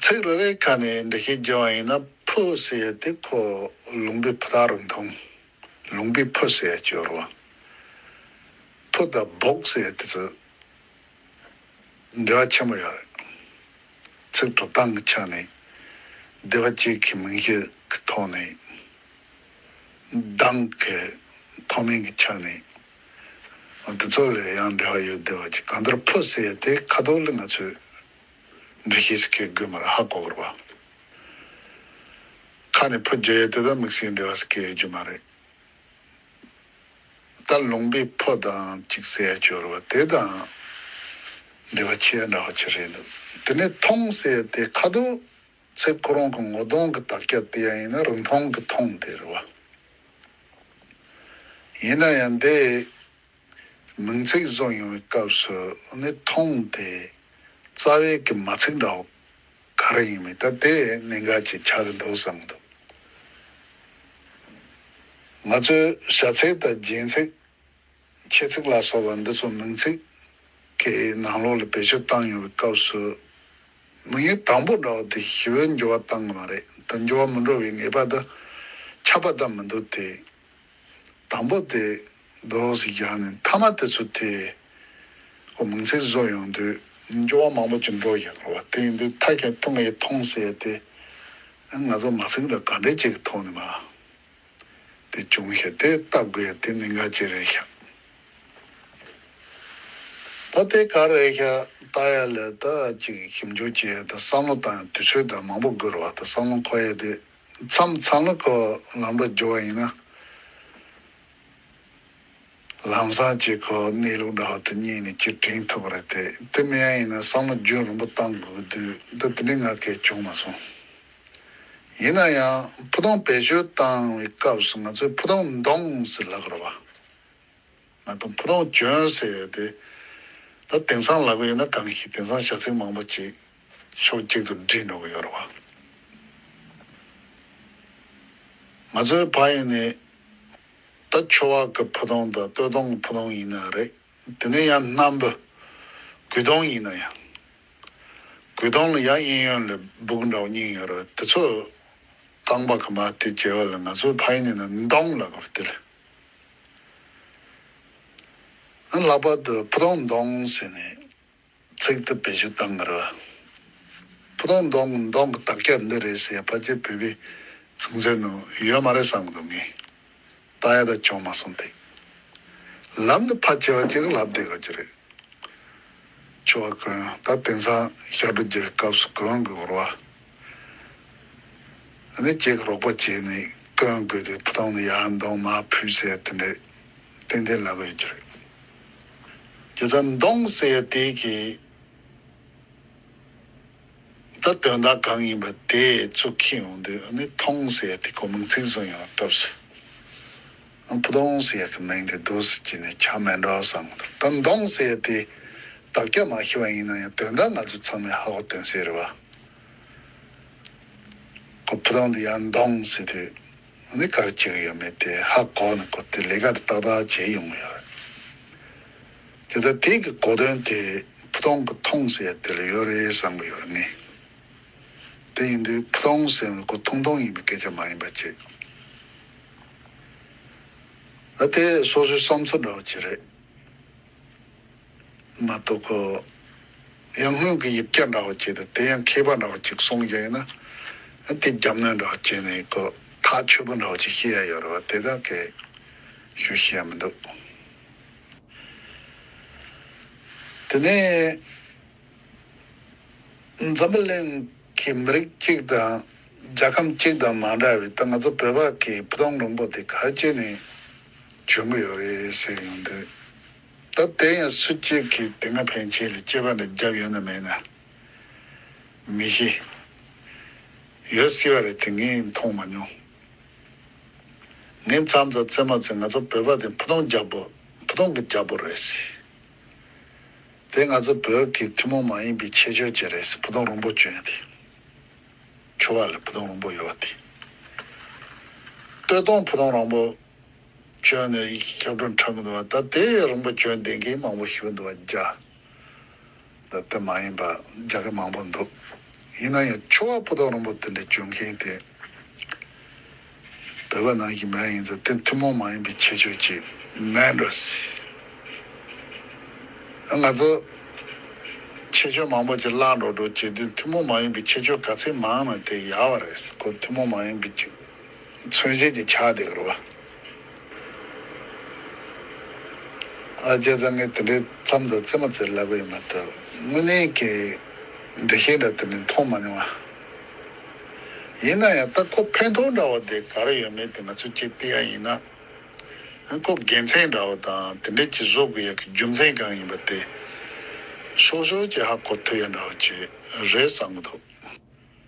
ཚིག་རེ་རེའི་ཁ་ནས་འདྲི་ཤེས་རྒྱུ་ཡང་ཡིན་ན་ཕུ་ཟེར་ཡས་དེ་ཁོ་ལུང་པའི་ཕུ་དག་རུ་མཐོང། ལུང་པའི་ཕུ་ཟེར་ཡས་སྐྱོར་བ། ཕུ་དང་སྦོག་ཟེར་ཡས་དེ་ཚོ་འབྲེལ་བ་ཆེན་པོ་ཡོད་རེད། ཚིག་གྲུབ་སྟངས་ཀྱི་ཆ་ནས་སྡེ་བ་གཅིག་གི་མིང་གཞི་གི་ཐོག་ནས་གདངས་ཀྱི་མཐོ་དམན་གྱི་ཆ་ནས་འོ་དེ་ཚོ་ལས་ཡང་འབྲེལ་བ་ཡོད་བདེ་བ་ཅིག་གང་ལྟར་ཕོ་ཟེར་ཡས་དེ་ཁ་དོག་ལི་ང་ཚོས་འབྲི་ཤེས་སི་ཁའི་དགོས་མ་ར་ཧ་གོ་གོར་བ། ཁ་ནས་ཕོ་རྒྱོ་ཡས་དེ་དང་མིག་སིའི་འབྲེལ་བ་སི་ཁའི་ཡོད་རྒྱུ་མ་རེད། ད་ལུང་པའི་ཕོ་དང་ཅིག་ཟེར་ཡས་ཅོ་ར་བ་དེ་དང་འབྲེལ་བ་ཆེས་འདྲ་བ་ཅིག་རེད་འདུག་དེ་ནས་ཐོང་ཟེར་ཡས་དེ་ཁ་དོག་ཚེ་ཁོ་རང་གི་ངོ་གདོང་གི་དག་སྐྱ་དེ་ཡང་ཡིན་ན་རིན་ཐང་གི་ཐོངས་དེ་རེད་བ། ཡིན་ན་ཡང་དེ་མིང་ཚིག་བཟོ་ཡོང་བའི་སྐབས་སུ་ནི་ཐོངས་དེ་རྩ་བའི་གི་མ་ཚིག་འདྲ་བོ་ག་རེ་ཡིན་མིན་ད་དེ་གནད་འགག་ཅིག་ཆགས་ཀྱི་འདུག་བསམ་འདུག། ང་ཚོའི་བྱ་ཚིག་དང་སྦྱིན་ཚིག་ཁྱད་ཚིག་ལ་སོགས་པ་འདི་ཚོ་མིང་ཚིག་གི་ནང་ལོགས་ལ་བེད་སྤྱོད་བཏང་ཡོང་བའི་སྐབས་སུ། མིང་ཡིག་དང་པོ་འདྲ་བ་དེ་ཞི་བའི་འགྱུར་བ་བཏང་གི་མ་རེད་དམ་འགྱུར་བ་མི་འགྲོ་བའི་ངེས་པ་དང་ཁྱབ་པ་དང་མི་འདུག་སྟེ། དང་པོ་དེ Those ཞེས་བཞག་ནས་མཐའ་མ་དེ་ཚོ་དེ་ཁོ་མིང་ཚིག་བཟོ་ཡོང་དུས། འགྱུར་བ་མང་པོ་ཅི་འགྲོ་ཞེས་བསྐུར་བ་དེ་ཡིན་དུས་མཐའ་ཁྱོད་ཐུགས་ངས་མཐོང་བསད་དེ། ང་ཚོ་མ་ཚིག་འདྲ་ག་འདྲས་ཅིག་གི་ཐོག་ནས་མ། དེ་བྱུང་ཞེས་དེ་ལྟ་དགོས་ཡ་དེ་ནི་ང་ཅི་རེད་ཤག་ད་དེ་ག་རེད་ཤག་ལྟ་ཡ་ལེ་ད་ཅིག་ཞིབ་འཇུག་བྱེད་ཡ་དེ་བསམ་བློ་བཏང་ཡ་དུས་ཚོད་དང་མང་པོ་སྒུར་བ་དང་བསམ་བློ་འཁོར་ཡ་དེ་མཚམས་མཚམས་ལ་ཁོ་ལམ་འགྲོ་རྒྱུ་བ་ཡིན་ན། ལམ་སང་སྤྱི་ཁོག་གནས་ལུགས་འདྲ་བ་དེ་གཉིས་ནི་སྤྱིར་དྲན་ཐུབ་པ་རེད་དེ་དེ་མིན་ཡང་ཡིན་ན་བསམ་བློ་རྒྱུན་རིང་པོ་བཏང་དགོས་དུས་འདི་དེ་འདྲའི་ང་སྐད་བྱུང་མ་སོང། ཡིན་ན་ཡང་ཕུ་ཐུང་བེད་སྤྱོད་བཏང་བའི་སྐབས་སུ་ང་ཚོས་ཕུ་ཐུང་འདོང་ཟེར་ལབ་དགོས་རེད་པ། ད་དུང་ཕུ་ཐུང་གྱོན་ཟེར་དེ་ད་དེང་སང་ལབ་གི་ཡོད་ན་གང་ཞིག་དེང་སང་བྱ་ཚིག་མང་པོ་ཅིག་ཕྱོགས་གཅིག་ཏུ་བསྒྲིལ་འགྲོ་གི་ཡོད་རེད་པ། ང་ཚོའི་བག་ཡོད་ནས་ད་ཆོ་བ་གི་ཕུ་དོང་དང་སྟོད་དོང་གི་ཕུ་དོང་ཡིན་ན་རེད་དེ་ནས་ཡང་སྣམ་བུ་གུས་དོང་ཡིན་ན་ཡང་གུས་དོང་ལ་ཡང་གཡས་གཡོན་ལས་སྦུག་འདྲ་བོ་གཉིས་ཡོད་རེད་དེ་ཚོ་རྐང་པ་གི་མ་དེ་གྱེས་བ་ལ་ང་ཚོའི་ཕ་ཡིན་ན་མི་འདོང་ལགས་པར་དེ་ལས་ལྷག་པར་དུ་ཕུ་དོང་འདོང་ཟེར་ནས། ཚེག་ཐུབ་པའི་གཞི་གཏང་མི་རུང། ཕུ་ཐུང་མདོང་མདོང་གི་དག་སྐྱ་འདི་རེད་ཟེར་ཕ་རྗེས་བོད་པའི་ཚིག་མཛོད་ནང་ཡོད་མ་རེད་བསམ་འདུག་ངས་ད་ཡ་ད་ཅོང་མ་གསུངས་ཐིག་ལམ་དུ་ཕ་བྱེ་བ་གཅིག་ལབ་བསྡད་ཡོད་ཀྱི་རེད། ཆོས་བ་ཀུན་ད་དེང་སང་ཤར་བགྲོ་རྒྱལ་བའི་སྐབས་སུ་གོན་དགོས་བོར་བ་ནི་ཁྱེད་ཀྱི་རོགས་པ་བྱས་ནས་གོན་དགོས་དེ་ཕུ་ཐུང་ནི་ཡར་མདོང་མར་ཕུད་ཟེར་དེ་འདྲས་ཏན་ཏན་ལབ་ཡོད་ཀྱི་རེད། དེ་ཚེ་མདོངས་གསལ་དེ་གི་ད་དོན་དག་གང་ཡིན་པ་དེ་ཚོ་ཁྱེད་ཡོང་དུས་ཨ་ནི་མཐོངས་གསལ་དེ་གོ་མིང་ཚིག་བཟུང་ཡོང་སྐབས་སུ་ཨ་བུ་དོངས་གསལ་གི་མིང་དེ་བསྡུ་ཟེར་གྱི་ནི་ཆ་མེད་འདྲ་བསམ་གི་འདུག་ད་མདོངས་གསལ་དེ་བདག་སྐྱ་མ་ཤི་བ་ཡིན་ན་ཡང་དོན་དག་ང་ཚོ་ཚང་མས་ཧ་གོ་དོན་གསལ་རེད་བ། ཁོ་བུ་དོངས་དེ་ཡང་མདོངས་གསལ་དུས་ནི་སྐར་གཅིག་ཡོད་མེད་དེ་ཧ་གོ་ནས་གོ་དེ་ལས་ཀ་དེ་ཏག་ཏག་བྱེད་ཡོང་གི་ཡོད་རེད། དེ་ལྟར་དེ་གི་གོ་དོན་དེ་ཕུ་ཐུང་གི་ཐུང་ཟེར་དེ་ལ་ཡོད་རེད་བསམ་གི་ཡོད་རེད་ངེས། དེ་ཡིན་དུས་ཕུ་ཐུང་ཟེར་ནི་གོ་ཐུང་ཐུང་ཡིན་པའི་སྐད་ཆ་མ་ཡིན་པ་གཅིག། ཨ་དེ་སོ་སོའི་བསམ་ཚུལ་འདྲ་བོ་གཅིག་རེད། མ་གཏོགས་གོ། ཡང་སྔོན་གྱི་ཡིག་བརྒྱ་འདྲ་བོ་བྱས་ཏེ་དེ་ཡང་མཁས་པ་འདྲ་བོ་གཅིག་གསུང་རྒྱུ་ཡིན་ན། དེ་རྒྱབ་གནོན་འདྲ་བོ་བྱས་ནས་གོ། ཐག་ཆོད་པོ་འདྲ་བོ་ཅིག་ཤེས་ཡ་ཡོད་རེད་བ་དེ་དག་གིས་ཞུ་ཤེས་ཡ་མི་འདུག། དེ་ནས། འཛམ་བུ་གླིང་གི་མི་རིགས་གཅིག་དང་རྒྱལ་ཁམས་གཅིག་དང་མ་འདྲ་བའི་ད་ང་ཚོ་བོད་པ་གིས་བུ་སྟོང་རིང་པོ་དེ་གར་སྐྱེས་ནས་བྱོན་གྱི་ཡོད་རེད་ཟེར་ཡོང་དུས། ད་དེ་ཡང་སུ་གཅིག་གིས་དེ་སྔ་ཕན་ཆད་ལས་སྐྱེས་པ་འདྲ་རྒྱབ་ཡོད་ན་མེད་ན་མི་ཤེས། ཡོད་སྲིད་པ་རེད་དེ་ངས་མཐོང་མ་མྱོང། ངའི་མཚམས་དང་བརྩེ་མ་བརྩེ་ང་ཚོ་བོད་པ་དེ་ཕུ་ཐུང་རྒྱ་བོ་ཕུ་ཐུང་གི་རྒྱ་བོ་རེད་སྲིད། དེ་ང་ཚོ་བོད་ཀྱི་ཐུན་མོང་མ་ཡིན་པའི་ཁྱད་ཆོས་ཅིག་རེད་སྲིད་ཕུ་ཐུང་རོང་པོ་གྱོན་དེ། ཆུ་བ་ལ་ཕུ་ཐུང་རོང་པོ་ཡོད་དེ། སྟོད་ཐུང་ཕུ་ཐུང་རོང་པོ། བྱོན་ནས་ཡི་གེ་ཁྱབ་བྲོ་འཕྲ་མི་འདུ་བ་ད་དེ་ཡི་རིང་པོ་བྱོན་དེང་གི་མང་པོ་ཞིབ་འདུ་བ་རྒྱ་ད་དེ་མ་ཡིན་པ་རྒྱ་གི་མང་པོ་འདུ་ཡིན་ན་ཡང་ཆུ་བ་པོ་ཏོ་རིང་པོ་དེ་འདྲ་བྱོན་མཁན་དེ་བོད་པ་ནང་གི་མའི་ཡིན་ཚ་དེ་ཐུན་མོང་མ་ཡིན་པའི་ཁྱད་ཆོས་ཅིག་མེད་འགྲོ་སྲིད་ང་ཚོ་ཁྱད་ཆོས་མང་པོ་ཅིག་བརླག་འགྲོ་འགྲོ་བྱེད་དུས་ཐུན་མོང་མ་ཡིན་པའི་ཁྱད་ཆོས་ག་ཚད་མང་ན་དེ་ཡག་བ་རེད་གོ་ཐུན་མོང་མ་ཡིན་པའི་ཁྱད་མཚོན་བྱེད་ཀྱི་ཆ་དེ་འགོར་བ། ཨ་ཅེ་བཟང་ངས་དེ་འདྲའི་མཚམས་དང་རྩེད་མོ་རྩེ་སླ་པོ་ཡིན་མ་ཐུབ། དངོས་གནས་ཀྱི་འབྲི་ཤེས་འདྲ་དེ་ནི་མཐོང་མ་མྱོང། ཡིན་ན་ཡང་སྟག་ཁོག་འཕེན་ཐོག་འདྲ་བ་དེ་ག་རེ་ཡོད་མེད་དེ་ང་ཚོས་ཅི་སྟེ་ཡང་ཡིན། ཨན་ཁོག་རྒྱལ་མཚན་འདྲ་བ་དང་དེ་འདྲའི་ཅི་བཟོ་དགོས་ཡག་གི་རྒྱུ་མཚན་གང་ཡིན་པ་དེ། ཤོག་ཤོག་ཅེས་ཧ་གོ་ཐུབ་ཡ་འདྲ་བ་ཅིག་རེད་བསམ་གྱི་འདུག།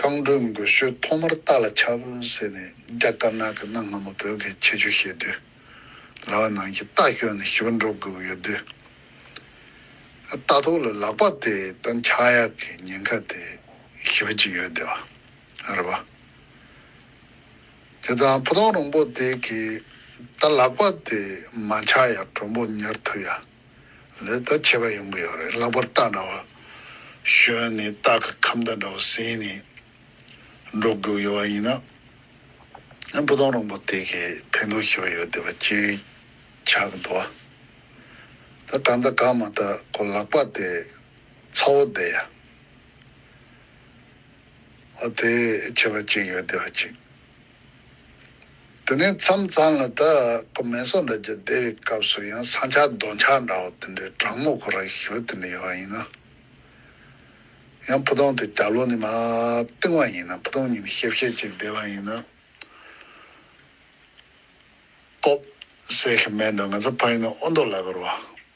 རྐང་འགྲོས་མགོ་ཤོད་ཐོག་མར་རྟ་ལ་ཆབ་བཟས་ནས་རྒྱ་དཀར་ནག་གི་གནའ་སྔ་མོ་བོད་ཀྱི་ཁྱད་ཆོས་ཤེས་དུས། ལྭ་བ་ནང་གི་རྟ་བསྐྱོན་ནས་ཞི་བ་འགྲོ་དགོས་ཡོད་དུས། རྟ་ཐོག་ལ་ལག་པ་དེ་དང་ཕྱག་གཡག་གི་ཉེན་ཁ་དེ་ཞི་བ་ཅིག་ཡོད་བསྡད་པ་རེད་བ། དེ་ཙང་ཕུ་ཐང་རོང་པོ་དེ་གིས་ད་ལག་པ་དེ་མ་ཕྱག་གཡག་གྲོང་པོ་ཉར་ཐུབ་ཡ། ལེ་བདའ་བྱེད་པ་ཡོང་གི་ཡོད་རེད་ལྷག་པར་སྟག་འདྲ་བ། གཞོན་ནི་སྟག་གི་ཁམ་བདག་འདྲ་བ་ཟས་ནས་འགྲོ་དགོས་ཡོད་པ་ཡིན་ན། སྤུ་ལྡོང་རོང་པོ་དེ་གས་ཕན་ཐོགས་ཤེས་པ་ཡོད་བསྡད་པ་སྐྱེ་ཆགས་ཀྱི་འདུག་ད་གང་ལྟ་གང་མ་ལྟ་ཁོ་ལག་པ་དེ་ཚ་བོ་བསྡད་ཡ། ཨོ་དེ་བྱས་པ་ཅིག་ཡོད་བསྡད་པ་ཅིག། དེ་ནས་མཚམས་གཙང་ལ་ད་ཀོ་མེ་སོགས་འདྲ་རྒྱུ་དེའི་སྐབས་སུ་ཡང་ས་འཁྱག་རྡོ་འཁྱག་འདྲ་བོ་དེ་འདྲའི་གྲང་མོ་ཁོ་ར་ཞི་བ་དེ་འདྲ་ཡོད་པ་ཡིན་ན། ཡང་ཕུ་ཐུང་དེ་བརྒྱ་ལོ་ནས་མ་བཏིང་བ་ཡིན་ན་ཕུ་ཐུང་ཉིན་ཤས་བཤད་ཅིག་བསྡད་པ་ཡིན་ན། སྤོབས་སེ་ཁེ་མེད་འགྲོ་ང་ཚོ་ཕ་ཡིན་ན་ཨོ་མདོ་ལ་གོར་བ།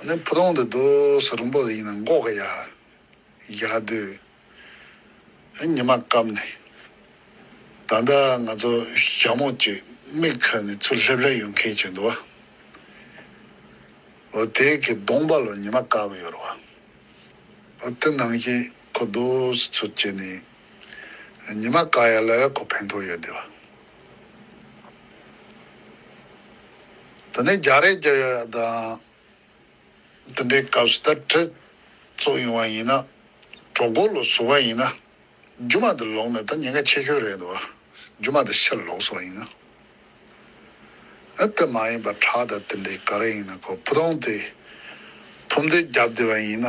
ཨ་ནི་བུ་ལོང་འདི་རྡོ་སོ་རིང་པོ་ལ་ཡིན་ན་འགོག་གི་ཡ། ཡ་དུས་ཨ་ཉི་མ་བསྐམས་ནས། ད་ལྟ་ང་ཚོ་ཞྭ་མོ་གཅིག་རྨིག་ཁ་ནས་ཚུར་སླེབས་སླེབས་ཡོང་མཁན་བྱེད་འདུག་བ། འོ་དེ་གི་གདོང་པ་ལོ་ཉི་མ་བཀག་གི་ཡོད་རུ་བ། འོ་དེ་ནང་བཞིན་ཁོ་རྡོ་སོ་ཚུར་བཅད་ནས་ཉི་མ་བཀག་ཡ་ལ་ཁོ་ཕན་ཐོག་ཡོད་དེ་བ། ད་ནི་རྒྱག་རེས་རྒྱག་ཡག་ཡག་དང། དེ་འདྲའི་སྐབས་སུ་ད་ཁྲེལ་ཚོགས་ཡོང་བ་ཡིན་ན། གྲོགས་མགོ་ལོག་བཟོ་བ་ཡིན་ན། རྒྱུ་མ་དེ་ལོག་ནས་ད་ཉེན་ཁ་ཆེ་ཤོས་རེད་འདུག་རྒྱུ་མ་དེ་ཕྱིར་ལོག་བཟོ་བ་ཡིན་ན། དེ་མ་ཡིན་པར་ཁྲག་དང་དེ་འདྲའི་ག་རེ་ཡིན་ན་ཁོ་བུ་སྟོང་དེ། ཕུབ་མདོས་བརྒྱབ་བསྡད་པ་ཡིན་ན།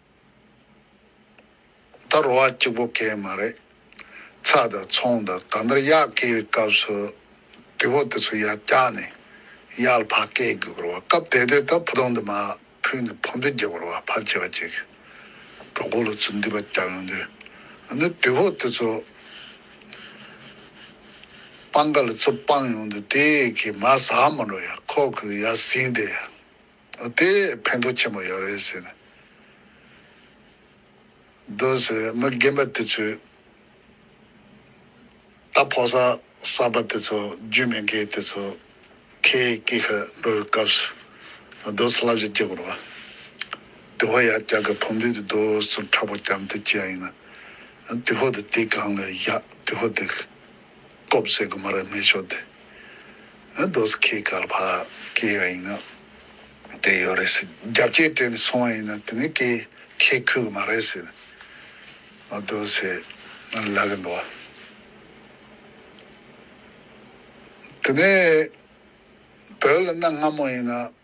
ད་རོ་བ་གཅིག་པོ་སྐད་མ་རེད། ཚགས་དང་ཚོང་དང་གང་ལྟར་གཡག་སྐད་བའི་སྐབས་སུ་དུས་བབ་དེ་ཚོ་ཡར་བཀྱགས་ནས་གཡག་ལ་ཕག་སྐད་དགོས་ཀྱི་རོ་བ་སྐབས་དེ་དུས་ད་བུ་དོང་དུ་མ་ཕུལ་ནས་ཕོ་མདུད་རྒྱག་པར་བ་ཕར་བྱེད་བ་ཅིག་གྲོགས་མགོ་ལོ་ཚོས་འདུས་པ་བཀྱགས་ཡོང་དུས་ཨ་ནུ་དུས་བབ་དེ་ཚོ་སྤང་ཀ་ལ་ཚུར་སྤངས་ཡོང་དུས་དེ་གི་མ་ཟག་མ་འགྲོ་ཡ་ཁོག་གི་ཡ་ཟིན་དེ། དེས་ཕན་ཐོགས་ཆེན་པོ་ཡོད་རེད་ཟེར། འདུག་ཟེར་མི་རྒན་པ་དེ་ཚོས། རྟ་ཕོ་ས་གསར་པ་དེ་ཚོ་རྒྱུས་མེད་མཁན་དེ་ཚོ་ཁའི་སྐད་ཁ་འགྲོ་བའི་སྐབས་སུ། རྡོ་སོ་ལྷ་བཞི་བསྐྱེད་དགོས་རེད། དུས་ཧོ་ཡར་བཀྱག་གི་ཕོ་མདུད་དུ་རྡོ་སོ་ཁྲ་པོ་བརྐྱངས་ཏེ་བསྐྱེད་ཡ་ཡིན་ན། དུས་ཧོ་དེ་དེ་སྒང་ལ་བཞག་དུས་ཧོ་དེ། སྟོབས་ཟེར་གི་མ་རེད་སྨན་ཤོག་དེ་ཨ་རྡོ་སི་ཁའི་སྐལ་བྷ་སྐྱེལ་བ་ཡིན་ན་དེ་ཡོད་རེད་ཟེར་རྒྱ་བསྐྱེད་སྤྲད་ནས་སོང་བ་ཡིན་ན་དེ་ནི་སྐྱེལ་མཁས་ཁུལ་གི་མ་རེད་ཟེར་ཨ་རྡོ་སི་ལབ་གི་འདུག་དེ་ནས་བོད་ལ་གནའ་སྔ་མོ་ཡིན་ན་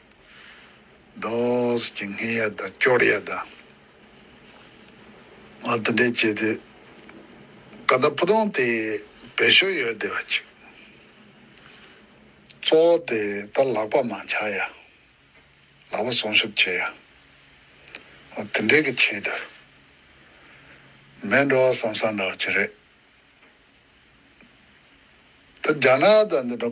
མདོས་ཀྱི་སྔས་ཡ་དང་སྐྱོར་ཡ་དང། ང་དེ་འདྲས་བྱས་ཏེ། ཀ་དག་སྤུ་སྡོང་དེ་བེད་ཤོ་ཡོད་བདེ་བ་ཅིག། གཙོ་བོ་དེ་ལྟར་ལག་པ་མང་ཆགས་ཡ། ལག་པ་སོང་ཤུབ་བྱས་ཡ། ང་དེ་འདྲས་ཀྱི་ཆེད་དུ། མེད་འགྲོ་བསམ་བསམ་འདྲ་བ་ཅི་རེད། ད་རྒྱ་ནག་དང་འདི་འདྲ་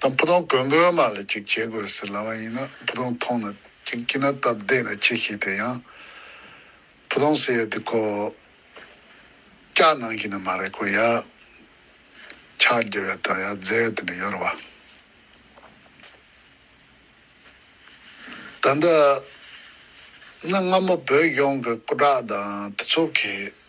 དང་བུ་དོང་གོས་མགོའི་མ་ལ་ཅིག་བྱེད་དགོས་ཟེར་ལབ་པ་ཡིན་ན་བུ་དོང་ཐོང་ན་ཅིག་སྐྱིད་ན་སྟབས་བདེ་ན་ཅིག་ཞིག་དེ་ཡང་བུ་དོང་ཟེར་ཡ་དེ་ཁོ་སྐྱག་ནང་གི་ནི་མ་རེད་ཁོ་ཡ་ཆག་རྒྱབ་ཡ་དོན་ཡ་རྫས་དེ་འདྲ་ཡོད་རེད་བ། ད་འདི་ནི་སྔ་མོ་བོད་གཞུང་གི་སྐུ་དྲག་དང་དེ་ཚོ་གིས་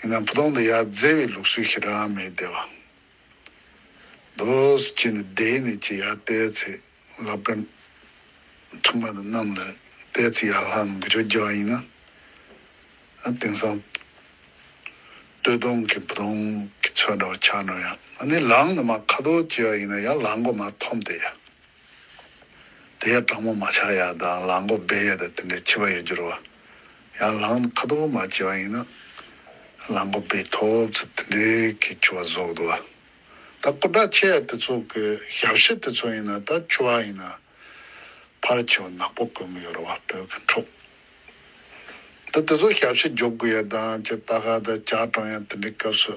ཡིན་ནའང་བུ་སྟོང་དང་ཡར་རྫས་བའི་ལུགས་སྲོལ་ཞིག་རང་མེད་དེ། བ་དོས་ཀྱིས་ནི་སྡེ་ནས་ཀྱི་ཡར་བལྟས་ཚེ་ལབ་ཀ། འཁྲུངས་མ་དང་གནམ་ལ་བལྟས་ཚེ་ཡར་ལྷ་རྣམས་འགུལ་ཆོག་རྒྱལ་བ་ཡིན་ན། དེང་སང་སྟོད་སྡོང་གི་བུ་སྟོང་གི་ཚོད་འདྲ་བ་ཆགས་འགྲོ་ཡང་ནི་ལངས་ནི་མ་ཁ་དོག་ཅི་ཡག་ཡིན་ན་ཡང་ལངས་མགོ་མ་འཐོམས་ཏེ། དེ་ཡང་སྤྲང་མོ་མ་ཆག་ཡ་དང་ལག་མགོ་སྦས་ཡས་དང་དེ་འདྲའི་འཆི་བ་ཡོད་རྒྱུར་བ། ཡང་ལག་ནི་ཁ་དོག་མ་བྱེ་བ་ཡིན་ན། ལག་མགོ་སྦས་ཐོབ་ཚེ་དེ་འདྲའི་གི་འཆི་བ་བཟོ་གདོ་བ། ད་སྐུ་དྲག་ཆེ་ཡ་དེ་ཚོ་གི་ཞབས་ཕྱི་དེ་ཚོ་ཡིན་ན་ད་འཆི་བ་ཡིན་ན། ཕར་འཆི་བ་ནག་པོ་དགོས་མི་ཡོད་ར་བ་བོད་གི་འཕྲོག། ད་དེ་ཚོ་ཞབས་ཕྱི་རྒྱོབ་དགོས་ཡ་དང་ཅི་ད་ག་ད་ཇག་སྤྲང་ཡང་དེ་འདྲའི་སྐབས་སུ།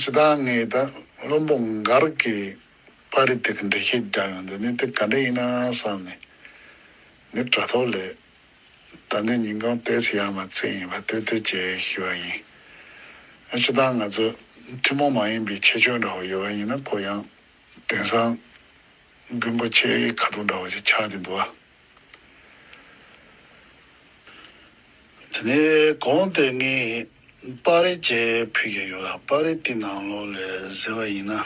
ཇི་ལྟར་ངེས་དང་བླུན་པོ་འགའ་རེ་གིས་པར་རིས་དེ་གི་འགྲེལ་བཤད་རྒྱག་ཡོང་དོན་ནི་དེ་ག་འདྲ་ཡིན་ན་བསམ་ནས། ངས་དྲ་ཐོག་ལས་ད་ནས་ཉིན་གང་བལྟས་ཚེ་ཡར་མར་བརྩེགས་ཡིན་པ་བལྟས་བལྟས་ཀྱི་ཞུས་པ་ཡིན། ཨ་ཅེ་ད་ང་ཚོ་ཐུན་མོང་མ་ཡིན་པའི་ཁྱད་ཆོས་འདྲ་བོ་ཡོད་པ་ཡིན་ན་གོ་ཡང། དེང་སང་རྒུན་འབོ་ཆེའི་ཁ་ཐུག་འདྲ་བོ་ཞིག་ཆགས་ཀྱི་འདུག་ཨ། དེ་ནས་གོང་དེ་ངས་པར་རིས་བཅས་ཕུལ་གྱི་ཡོད་ལ་པར་རིས་དེའི་ནང་ལོགས་ལས་གཟིགས་པ་ཡིན་ན།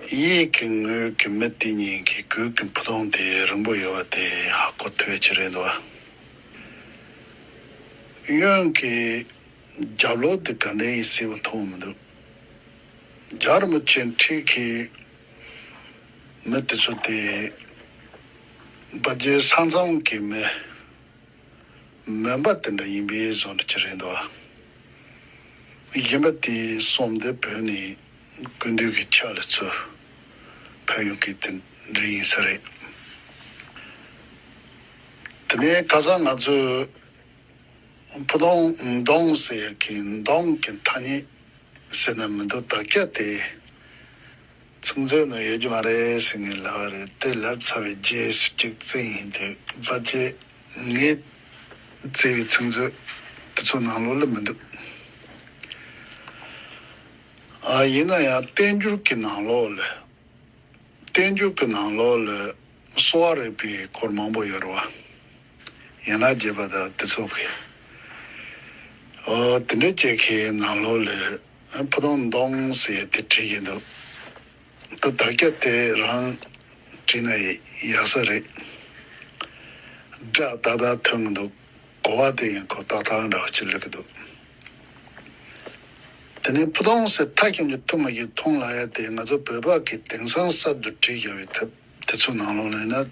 གཡས་ཀྱི་ངོས་ཀྱི་མི་དེ་གཉིས་ཀྱི་གོས་ཀྱི་འཕུར་སྟངས་དེ་རིང་པོ་ཡོད་པ་དེ་ཧ་གོ་ཐོས་ཅི་རེད་འདུག་ཨ། གཡོན་གྱི་རྒྱབ་ལོགས་དེ་ག་འདྲའི་ཡིན་གསལ་པོ་མཐོང་མི་འདུག། རྒྱ་རི་མོ་ཅན་ཁྲིད་ཁའི་མི་དེ་ཚོ་དེ་སྦ་རྒྱའི་ས་མཚམས་ཀྱི་མི་མོན་པ་དེ་འདྲ་ཡིན་པས་བཟོ་འདྲ་གྱི་རེད་འདུག་ཨ། གཞན་པ་དེའི་གསུམ་དེ་བོད་ནས་ཀུན་འདུས་ཀྱི་ཕྱག་ལས་ཚོས་ཕུལ་ཡོང་གི་དེ་འདྲ་ཡིན་ས་རེད། དེ་ནས་ཁ་སང་ང་ཚོས། ཕུདོང། མདོང་ཟེར་ཡག་གི་མདོང་གི་ཐ་སྙད་ཟེར་ན་མི་འདུག་དག་སྐད་དེ། ཚིག་མཛོད་ནང་ཡོད་ཀྱི་མ་རེད་ཟེར་ངེས་ལབ་བ་རེད་དེ་ལབ་ཚར་བའི་རྗེས་སུ་གཅིག་བཙལ་ཡིན་དུས་པ་ཅེས་ངས་བཙལ་བའི་ཚིག་མཛོད་དེ་ཚོ་ནང་ལོག་ལ་མི་འདུག་ཨ། ཡིན་ན་ཡང་བསྟན་འགྱུར་གྱི་ནང་ལོག་ལ། བསྟན་འགྱུར་གྱི་ནང་ལོག་ལ་གསོ་བ་རིག་པའི་སྐོར་མང་པོ་ཡོད་རེད་བ། ཡན་ལག་བརྒྱད་པ་དང་ཏི་ཚོགས་ཀྱི། འོ་དེ་འདྲའི་སྐྱེ་ཁའི་ནང་ལོགས་ལས། ཕུ་དོང་མདོང་ཟེ་དེ་བྲིས་ཀྱི་འདུག། འདི་བདག་སྐྱ་དེ་རང་བྲིས་ན་ཡག་ས་རེད། སྒྲ་ཏག་ཏག་ཐོན་གྱི་འདུག་གོ་བ་དེ་ཡིན་གོ་ཏག་ཏག་འདྲ་བ་ཅིག་ལུས་ཀྱི་འདུག། དེ་ནས་ཕུ་དོང་ཟེ་མཐའ་སྐྱོང་གྱི་ཐུགས་མ་གྱུར་མཐོང་ལ་ཡ་དེ་ང་ཚོ་བོད་འབག་གི་དེང་སང་གསར་དུ་བྲིས་ཀྱི་ཡོད་པའི་ཐབས་དེ་ཚོ་ནང་ལོགས་ལོས་ན་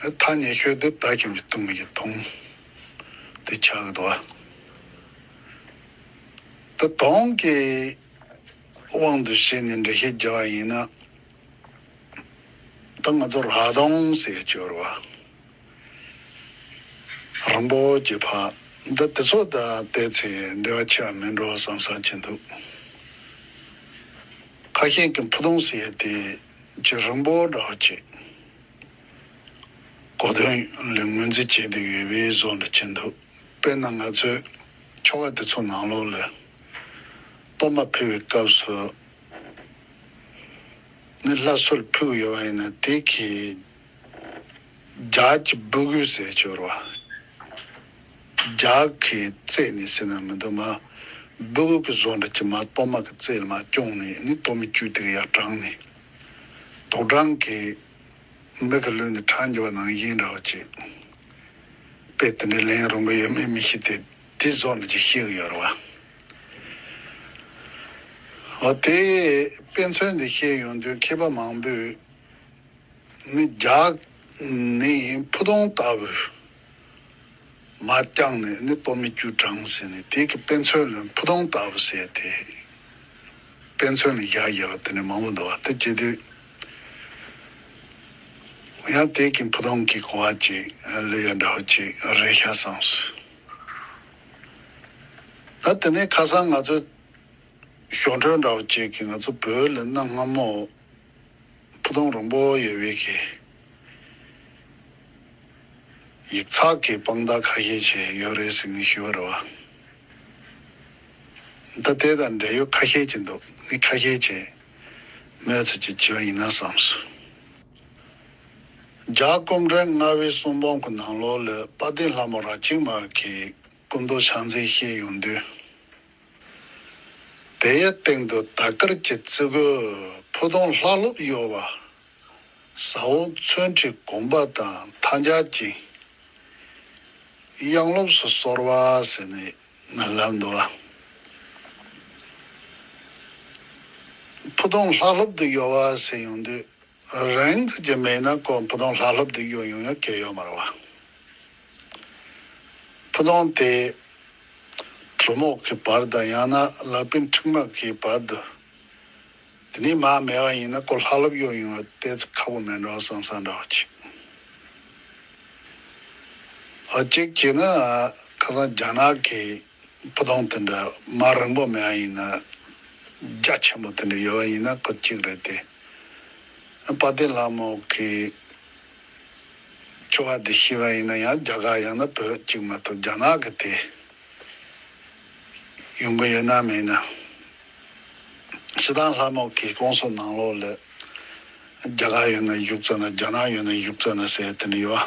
ཐ་སྙད་ཁྱོད་འདི་ལྟ་ཁྱིམ་གྱི་ལྟུང་བའི་ལྟུང། འདི་ཆགས་ཀྱི་དུ་བ། འདི་སྟོང་གི་དབང་དུ་བྱས་ནས་འགྲེལ་བཤད་བགྱི་བ་ཡིན་ན། འདི་ང་ཚོ་རག་དོང་ཟས་སྤྱོར་བ། རིན་པོ་ཆེ་འཕགས་འདི་དེ་ཚོ་དང་བལྟས་ཚེ་འབྲེལ་བ་ཆེ་བ་མིན་འགྲོ་བསམ་བསམ་བྱེད་འདུག། ཁ་ཤས་ཀྱིས་འཕུ་དོང་ཟས་དེ་ཇེ་རིང་པོ་འདྲ་བོ་བྱེད། གོ་དོན་ལས་ངོས་འཛིན་བྱས་ཏེ་ངེས་པའི་བཟོ་འདྲ་བྱེད་འདུག་དཔེར་ན་ང་ཚོས་ཁྱོ་ག་དེ་ཚོ་ནང་ལོགས་ལས་གཏོར་མ་ཕུལ་བའི་སྐབས་སུ་ནི་བླ་གསོལ་ཕུལ་གི་ཡོད་པ་ཡིན་ན་དེ་གིས་ལྗགས་ཀྱི་སྦུ་གུའི་ཟས་སྤྱོར་བ། ལྗགས་ཀྱི་རྩེས་ནས་ཟེར་ན་མི་འདུག་མ་སྦུ་གུ་གི་བཟོ་འདྲ་གྱིས་མ་གཏོར་མ་གི་རྩེས་ལ་མ་བསྐྱོང་ནས་ནི་གཏོར་མ་བཅུད་དེ་ག་ཡར་དྲངས་ནས། དོག་སྦྲང་གི་མིག་གི་ལུས་ནི་ཁྲག་འགྱུ་བ་ནང་བཞིན་རག་ཅིག། དཔེ་དེ་འདྲའི་ལན་རུང་གི་ཡོད་མེད་མི་ཤེས་ཏེ་དེ་བཟོ་ནི་ཅིག་ཤེས་གི་ཡོད་རེད་བ། ཨོ་དེ་དཔེ་མཚོན་འདི་ཤེས་ཡོང་དུས་མཁས་པ་མང་པོས་ནི་རྒྱག་ནི་ཕུ་དོང་ལྟ་བུ་མ་བསྐྱངས་ནས་ནི་སྟོབས་མི་རྒྱུ་འབྲང་ཟེར་ནས་དེ་གི་དཔེ་མཚོན་ལ་ཕུ་ཐུང་ལྟ་བུ་བྱས་ཏེ། དཔེ་མཚོན་ལ་ཞག་བརྒྱད་པ་དེ་ནས་མང་པོ་འདུ་བ་དེ་སྐྱེ་དུས། ཡང་དེ་གི་ཕུ་ཐུང་གི་གོ་བ་ཅིག་ལུས་ཡ་འདྲ་བ་ཅིག་རེག་ཤ་སངས། ད་དེ་ནས་ཁ་སང་ང་ཚོས་ཞོ་འཕྲོད་འདྲ་བ་ཅིག་གི་ང་ཚོ་བོད་ལ་གནའ་སྔ་མོ། ཕུ་ཐུང་རོང་པོ་ཡེ་དབྱིག་གི་ཡིག་ཚགས་ཀྱི་དཔང་རྟགས་ཁ་ཤས་བྱས་ཡོད་རེད་ཟེར་ནས་ཞུ་བ་རེད་བ། ད་དེ་དང་འབྲེལ་ཡོད་ཁ་ཤས་བྱས་འདུག་མི་ཁ་ཤས་བྱས་མོད་ཚོད་ཀྱིས་བྱས་བ་ཡིན་ན་བསམ་སོང། རྒྱ་སྐོམ་བྲན་ལྔ་བའི་གསུང་འབོང་གི་ནང་ལོགས་ལས་དཔའ་གདེང་ལྷ་མོ་ར་ཅིག་མ་གིས་སྐུ་མདོག་ཕྱག་མཛེས་ཤེས་ཡོང་དུས། དེའི་སྟེང་དུ་དར་དཀར་གྱི་རྩི་གོས་ཕུ་དུང་ལྷག་ལྷུབ་གཡོ་བ། ཟ་འོག་མཚོན་ཁྲི་གུམ་པ་དང་མཐའ་འཇག་ཅིང་གཡང་ལོབས་སུ་སོར་བ་ཟེར་ནས་མིན་ལབ་འདུག་ཨ། ཕུ་དུང་ལྷག་ལྷུབ་ཏུ་གཡོ་བ་ཟེར་ཡོང་དུས། རང་ཚིག་གི་མེད་ན་ཀོ་བུ་དོང་ལྷ་ལྷོབ་སྡིག་གཡོ་ཡོང་ཡོང་སྐད་ཡོད་མ་རེད་བ། བུ་དོང་དེ་གྲུ་མོག་གི་བར་དང་ཡང་ན་ལག་པིན་ཁྲིག་མ་གི་བར་དུ་དེ་ནས་མ་མེད་བ་ཡིན་ན་ཀོ་ལྷ་ལྷོབ་གཡོ་ཡོང་བའི་གཏད་ཚིག་ཁག་པོ་མེད་འདྲ་བ་བསམ་ས་འདྲ་བ་གཅིག་གཅིག་གྱིས་ན་ཁ་སང་རྒྱ་ནག་གི་བུ་དོང་དེ་འདྲ་མ་རིང་པོ་མེད་བ་ཡིན་ན་རྒྱ་ཆེན་པོ་དེ་འདྲ་ཡོད་བ་ཡིན་ན་ཁོ་གཅིག་རེད་དེ། དཔའ་བདེ་ལྷ་མོ་གི་སྤྱོད་པ་དེ་ཤེས་པ་ཡིན་ན་ཡང་རྒྱ་གར་ཡང་ན་བོད་གཅིག་མ་ཐུབ་རྒྱ་ནག་གི་དེ་ཡོང་གི་ཡོད་ན་མེད་ན་ཤི་ཐང་ལྷ་མོ་གི་སྐོང་སོ་ནང་ལོག་ལས་རྒྱ་གར་ཡོད་ན་བཞུགས་ཙ་ན་རྒྱ་ནག་ཡོད་ན་བཞུགས་ཙ་ན་ཟེར་དེ་ནི་ཡོད།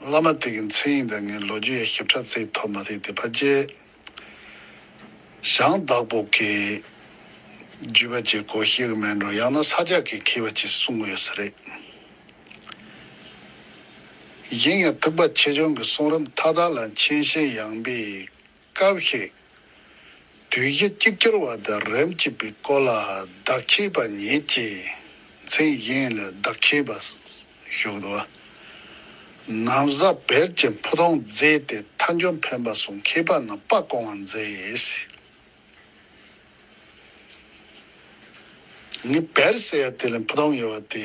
བླ་མ་དེ་གི་མཚན་ཡིན་དང་ངའི་ལོ་རྒྱུས་ཡ་ཞབས་ཕྲ་ཚེགས་ཐོབ་མ་ཐེག་དེ་ཕ་རྗེས་ཞང་བདག་པོ་གི་རྒྱུད་པ་གཅིག་གོ་ཤེས་གི་མེད་འགྲོ་ཡང་ན་ས་ཇག་གི་མཁས་པ་གཅིག་གསུང་གི་ཡོད་ས་རེད། གཞན་ཡང་ཐུག་པ་ཆེ་ཆུང་གི་གསུང་རབ་མཐའ་དག་ལ་མཁྱེན་ཤེས་ཡངས་པའི་སྐབས་ཤིག། དུས་བཞི་གཅིག་གྱུར་བ་དང་རིམ་གཅིག་པའི་སྐོར་ལ་བདག་ཁྱེད་པ་ཉིད་ཀྱིས་མཚན་བཞེངས་ལ་བདག་ཁྱེད་པ་བཞུགས་འདུག། ནམ་གཟའ་བེར་གྱི་འཕུར་ལྡང་མཛད་དེ་མཐའ་མཇུག་འཕེན་པ་སོགས་མཁས་པ་རྣམས་སྤ་བཀོང་བ་མཛད། ངས་བེར་བསད་ཡ་དེ་ལས་འཕུར་ལྡང་ཡོད་པ་དེ་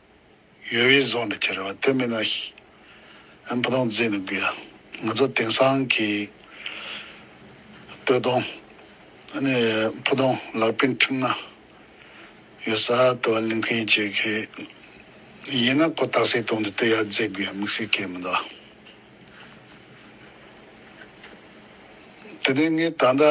ཡོད་བའི་གཟུགས་འདི་ཁྱེར་བ་དེ་མིན་ན། བུ་དང་རྫས་ནི་དགོས། ང་ཚོ་དེང་སང་གི་སྟོད་དང། ཕུ་དང་ལག་པའི་འཁྲིག་སྣ། ཡོད་ས་དེ་བ་ལིང་ཁའི་བྱེད་མཁས། ཡིན་ན་ཁོ་བཏགས་སའི་དོན་དུ་དེ་ཡར་རྫས་དགོས་ཡ་དམིགས་བསལ་སྐད་མི་འདུག་ཨ། དེ་ནས་ངས་ད་ལྟ།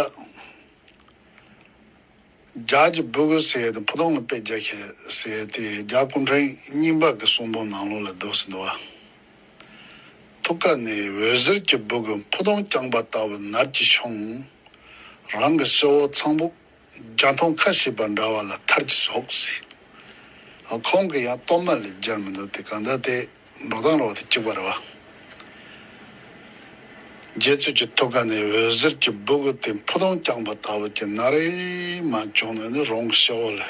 ལྗགས་ཀྱི་སྦུ་གུ་བསལ་ཏེ་ཕུ་ཐུང་ལ་པད་རྒྱ་ཞེས་གསལ་ཏེ་ལྗགས་སྐུ་འཕྲེང་སྙིང་ལྤགས་ཀྱི་གསུང་འབུམ་ནང་ལོགས་ལ་བརྡོལ་ཟིན་འདུག་བ། ཐུགས་ཀ་ནས་འོད་ཟེར་གྱི་སྦུ་གུ་ཕུ་ཐུང་བརྐྱངས་པ་ལྟ་བུ་ནར་གྱིས་ཕྱུང། རང་གི་སྤྱི་བོ་ཚངས་བུག་བརྒྱ་མཐོང་ཁ་ཞིག་པ་འདྲ་བ་ལ་མཐར་གྱིས་ཟོག་ཟིན། ཁོང་གི་ཡང་གཏོར་མ་ལས་སྦྱར་མི་འདུག་དེ་གང་ཟླ་སྟེ། འགྲོ་སྟངས་རོགས་དེ་གཅིག་པ་རེད་བ། རྗེ་བཙུན་གྱི་ཐུགས་ཀ་ནས་འོད་ཟེར་གྱི་སྦུ་གུ་དེ་འཕུར་ལྡིང་བརྐྱངས་པ་ལྟ་བུ་གྱི་ན་རེ་མ་བྱུང་ན་ནི་རང་གི་ཤེས་བོ་ལས་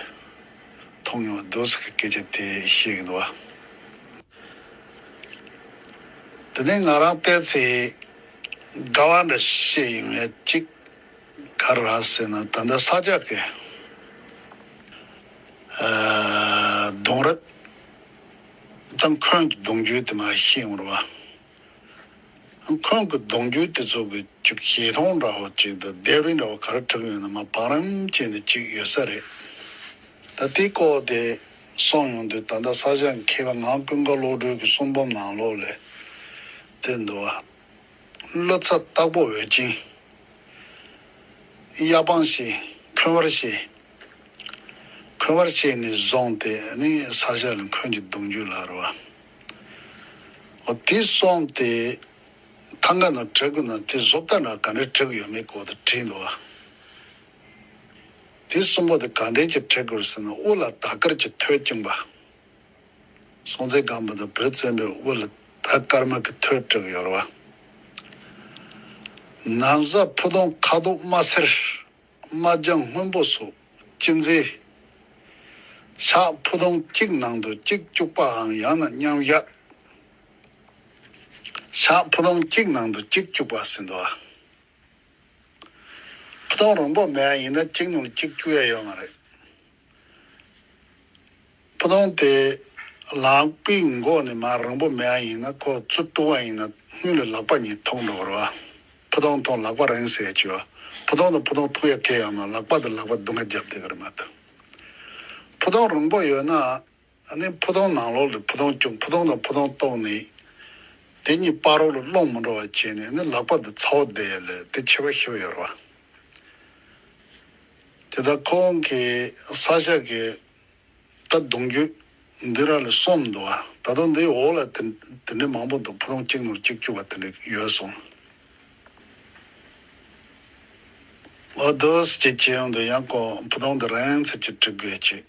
མཐོང་མྱོང་བ་བདུད་ཟེར་གྱི་སྐད་ཆ་དེ་བཤད་གི་འདུག་བ། དེ་ནས་ང་རང་བལྟས་ཚེ་དགའ་བ་འདྲ་བཤད་ཡིན་ངེས་གཅིག་ག་ར་ཟེར་ན་ད་ལྟ་ས་སྐྱ་ཀའི་གདུང་རབས་དང་ཁོང་གི་གདུང་རྒྱུད་དེ་མ་ཤེས་ངོར་བ། ཁོང་གི་གདུང་རྒྱུད་དེ་ཚོ་གི་ཅིག་བྱེ་ཐང་འདྲ་བོ་ཅིག་ཏུ་སྡེ་རི་འདྲ་བོ་ག་རེ་དྲུག་ཡོད་ན་མ་བང་རིམ་ཅན་དེ་ཅིག་ཡོད་ས་རེད། ད་དེ་ལྐོག་དེ་སོང་ཡོང་དུས་ད་ལྟ་ས་ཞག་མཁས་པ་ངག་ཀུན་དགའ་བློ་གྲོས་ཀྱི་གསུང་འབུམ་ནང་ལོག་ལས་དེ་འདུག་བ། བློ་ཚ་སྟག་པོ་འོད་ཅན། གཡའ་སྤང་ཞེས་ཁོན་བར་བྱེད། འཁོན་བར་བཅས་ནས་བཟུང་སྟེ་ནི་ས་བཞི་ལ་འཁོན་གྱི་གདུང་རྒྱུད་ལ་རུ་བ། འོ་དེ་སོང་སྟེ་ཐང་ག་ན་བྲེག་གོ་ན་དེ་བཟོ་བལྟ་ན་ག་འདྲའི་བྲེག་གོ་ཡོད་མེད་སྐོར་དུ་དྲིས་འདུག་བ། དེ་གསུམ་པོ་དེ་ག་འདྲའི་གྱི་བྲེག་གོ་རུ་ཟེར་ན་དབུ་ལ་དར་དཀར་གྱི་ཐོད་བཅིངས་པ། སྲོང་བཙན་སྒམ་པོ་དང་བོད་བཙན་པོའི་དབུ་ལ་དར་དཀར་དམར་གྱི་ཐོད་བྲེག་གོ་ཡོད་རུ་བ། ནམ་བཟའ་ཕུ་དོང་ཁ་དོག་དམར་སེར། དམར་ལྗང་སྔོན་པོ་སོགས་སྤྱི་མཛེས། ཤ་ཕོ་སྡོང་གཅིག་ནང་དུ་གཅིག་བཅུག་པའང་ཡང་ན་མཉམ་གཞག། ཤ་ཕོ་སྡོང་གཅིག་ནང་དུ་གཅིག་བཅུག་པ་ཟིན་ཐོ། ཕོ་སྡོང་རོང་པོ་མེད་ཡིན་ན་གཅིག་ནང་གཅིག་བཅུག་ཡ་ཡོད་མ་རེད། ཕུ་ཐུང་དེ། ལག་པའི་མགོ་ནས་མར་རིང་པོ་མེད་ཨ་ཡིན་ན་ཁོ་ཚུར་ལྟུང་བ་ཡིན་ན་དངུལ་ལས་ལག་པ་ཉིད་ཐུག་འགྲོ་གི་རོ་ཨ། ཕུ་ཐུང་ཐུང་ལག་པ་རིང་ཟེར་གྱི་ཨ། ཕུ་ཐུང་དང་ཕུ་ཐུང་ཐུང་ཡ་ཁེ་ཡ་མ་ལག་པ་དང་ལག་པ་སྡུག་ང་རྒྱབ་བསྡད་གི་རེད་མ་གཏོགས། ཕུ་ཐུང་རིང་པོ་ཡོད་ན་ཨ་ནི་ཕུ་ཐུང་ནང་ལོགས་ལས་ཕུ་ཐུང་བསྐྱུངས་ཕུ་ཐུང་དང་ཕུ་ཐུང་ལྟོགས་ནས་དེ་གཉིས་སྤ་རོག་ལ་སློང་མི་འགྲོ་བ་བྱས་ནས་ཨ་ནི་ལག་པ་དེ་ཚའོ་དེ་ཡ་ལས་དེ་ཆེ་བ་ཤི་བ་ཡོར་བ། དེ་ད་ཁོ་བོང་གིས་ས་ཞག་གི་ད་གདུང་རྒྱུད་འདི་ར་ལས་སོང་མི་འདུག་ཨ་ད་དུང་འདིའི་འོག་ལ་དེ་དེ་འདྲའི་མང་པོ་འདུག་ཕུ་ཐུང་གཅིག་ནོར་གཅིག་སྐྱུར་བ་དེ་འདྲ་ཡོད་སོང། ཨོ་དོ་སྐྱིད་ཀྱི་འདུག་ཡང་ཁོ་ཕུ་ཐུང་འདི་རན་ཚད་ཀྱིས་བྲི་དགོས་ཅིག།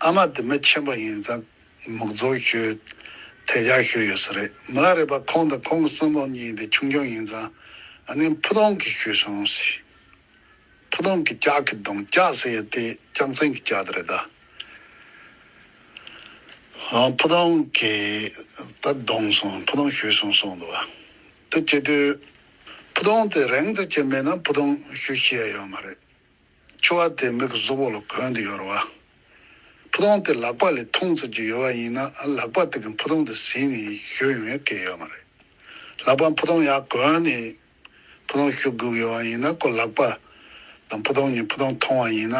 ཨ་མ་འདི་མི་ཆེན་པོ་ཡིན་ཙང་མུག་རྫོགས་ཤོས་དལ་རྒྱག་ཤོས་ཡོད་ས་རེད་མི་ལ་རས་པ་ཁོང་དང་ཁོང་གི་གསོན་པོ་གཉིས་དེ་ཆུང་ཆུང་ཡིན་ཙང་ཨ་ནེ་ཕུ་ཐུང་གིས་ཤོད་སོང་ཟེར་ཕུ་ཐུང་གི་ལྕགས་ཀྱི་གདོང་ལྕགས་ཟེར་ཡ་དེ་ལྕགས་མཚན་གྱི་ལྕགས་དེ་རེད་ད་ཕུ་ཐུང་གིས་ད་གདོང་སོང་ཕུ་ཐུང་ཤོད་སོང་གསུངས་འདུག་དེ་བྱེད་དུས་ཕུ་ཐུང་དེ་རེངས་ཙམ་བྱས་མེད་ན་ཕུ་ཐུང་ཤོད་ཤེས་ཡ་ཡོད་མ་རེད། ཆུ་བ་དེ་མིག་གི་གཟུགས་བོགས་ལ་གོན་དུ་ཡོར་བ། ཕུ་ཐུང་དེ་ལག་པ་ལས་འཐུང་ཚར་གྱི་ཡོད་བ་ཡིན་ན་ལག་པ་དེ་གིས་ཕུ་ཐུང་དེ་ཟིན་ནས་བཞུད་ཡོང་ཡ་སྐད་ཡོད་མ་རེད། ལག་པ་ཕུ་ཐུང་ཡར་གོན་ནས་ཕུ་ཐུང་བཞུད་དགོས་ཡོད་བ་ཡིན་ན་ཀོ་ལག་པ་དང་ཕུ་ཐུང་གཉིས་ཕུ་ཐུང་འཐུང་བ་ཡིན་ན་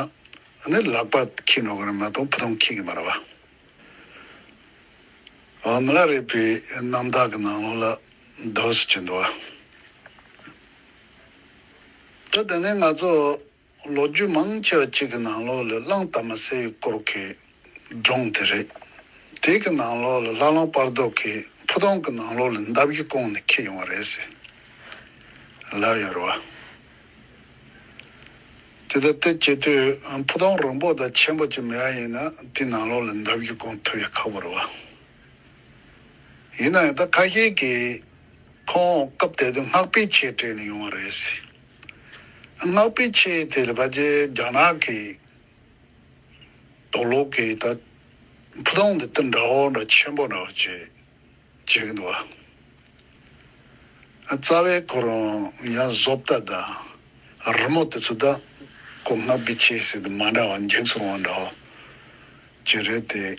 ནི་ལག་པ་ཁྱི་འགྲོ་གི་རེད་མ་གཏོགས་ཕུ་ཐུང་ཁྱི་གི་མ་རེད་བ། མི་ལ་རེད་པའི་རྣམ་དག་གི་ནང་ལོགས་ལ་རྡོ་སོ་གྱི་འདུག་བ། ད་དེ་ནས་ང་ཚོ་ལོ་རྒྱུས་མང་ཆེ་བ་ཅིག་གི་ནང་ལོགས་ལས་བླངས་དར་མ་སེར་ཡུལ་སྐོར་གྱི་སྒྲུང་དེ་རེད། དེ་གི་ནང་ལོགས་ལ་ལྷ་ལུང་དཔར་རྡོ་གི་ཕུ་ཐུང་གི་ནང་ལོགས་ལས་འདབ་ཀྱི་ཀོང་ནས་འཁྱིལ་ཡོང་བ་རེད་ཟེར། ལབ་ཡོད་རེད་བ། དེ་ལྟར་དེ་བྱེད་དུས་ཕུ་ཐུང་རིང་པོ་དང་ཆེན་པོ་ཅིག་མེད་ཡ་ཡིན་ན་དེའི་ནང་ལོགས་ལས་འདབ་ཀྱི་ཀོང་ཐུ་ཡ་ཁག་པོ་རེད་བ། ཡིན་ནའང་ད་ཁ་ཤས་ཀྱིས་ཁོང་སྐབས་དེ་དུས་སྔགས་པའི་ཆས་སྤྲས་ནས་ཡོང་བ་རེད་ཟེར། སྔགས་པའི་ཆས་དེ་རེད་པ་རྒྱ་ནག་གི་དོགས་ལོག་གིས་ད་ཕུ་ཐུང་འདི་ལྟར་འདྲ་བོ་འདྲ་ཆེན་པོ་འདྲ་བོ་བྱས་བྱས་གི་འདུག་ཨ། རྩ་བའི་ཁོ་རང་ཡང་བཟོ་པ་ད་རི་མོ་དེ་ཚོ་ད་ཁོ་སྔགས་པའི་ཆས་ཟེར་དུ་མ་འདྲ་བ་འགྱེངས་སོང་བ་འདྲ་བོ་བྱས་རེད་དེ།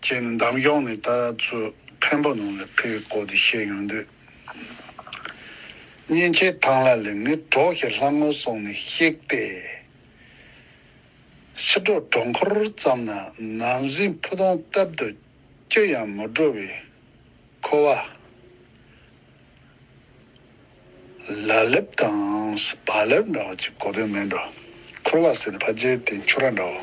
ཅེས་ནི་འདམ་གཞོང་ནས་ལྟ་ཚུལ་འཕན་པོ་ནང་ལ་ཕེབས་པའི་སྐོར་དེ་བཤད་ཡོང་དུས། གཉེན་ཆེན་ཐང་ལ་ལས་མི་གྲོགས་ཞིག་ལྷ་ངོ་སོང་ནས་གཤེགས་ཏེ། ཕྱི་དྲོ་གྲོང་འཁོར་ཙམ་ན་ནམ་གཟིགས་ཕུ་དོང་བཏབ་འདུག་ཅི་ཡང་མི་འགྲོ་བས་ཁོ་བ་ལ་ལེབ་དང་བ་ལེབ་འདྲ་བ་གཅིག་གོ་དོན་མེད་འགྲོ་ཁུར་བ་ཟེར་ཏེ་ཕ་རྗེས་དེ་འཕྱུར་ར་འདྲ་བོ།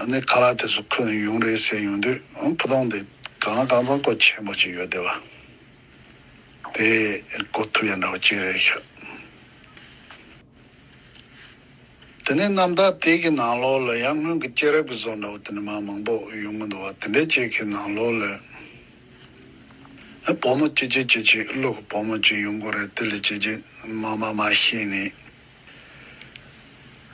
ཨ་ནེ་ཁ་ལག་དེ་ཚོ་ཁོས་ཡུང་རེད་ཟེར་ཡོང་དུས་བུ་སྟོང་དེ་གང་ལ་གང་འཚམ་སྐོར་ཆེན་པོ་ཅིག་ཡོད་དེ་བ། དེ་སྐོར་ཐུགས་ཡ་འདྲ་བ་ཅིག་རེད་ཤག། དེ་ནས་གནམ་བདག་དེ་གི་ནང་ལོགས་ལ་ཡང་སྔོན་གི་སྐྱེས་རབས་ཀྱི་བཟོ་འདྲ་བོ་དེ་འདྲ་མང་མང་པོ་ཡོང་གི་འདུག་བ་དེ་འདྲའི་ཅིག་གི་ནང་ལོགས་ལ་བུ་མོ་ཅི་ཅི་ཅི་ཅིག་ཀླུ་གི་བུ་མོ་ཅིག་ཡོང་གི་རེད་དེ་ལས་ཅི་ཅི་མ་མ་མ་ཤེས་ནས།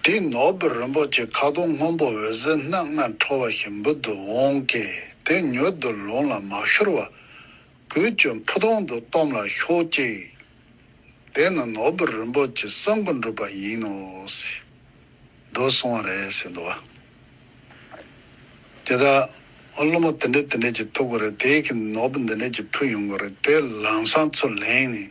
དེ་ནོར་བུ་རིན་པོ་ཆེ་ཁ་དོག་སྔོན་པོ་འོད་ཟེར་སྣ་ལྔ་འཕྲོ་བ་བཞིན་འབུར་དུ་འོང་སྐད་དེ་མྱུར་དུ་ལུང་ལ་མ་ཤོར་བར། གོས་གྱོན་ཕུ་དོང་དུ་བཏོམས་ལ་ཤོག་ཅིག། དེ་ནི་ནོར་བུ་རིན་པོ་ཆེ་གསང་སྐུ་འགྲུབ་པ་ཡིན་ནོ། འགྲོ་སོང་བ་རེད་ཟེར་འདུག་བ། དེ་ལྟར་སློབ་མ་དེ་འདྲས་དེ་འདྲས་ཀྱིས་ཐུག་གོ་རེད་དེ་གིས་ནོར་བུ་འདི་འདྲས་ཀྱིས་ཕུལ་ཡོང་གོ་རེད་དེ་ལམ་སང་ཚུར་ལེན་ནས།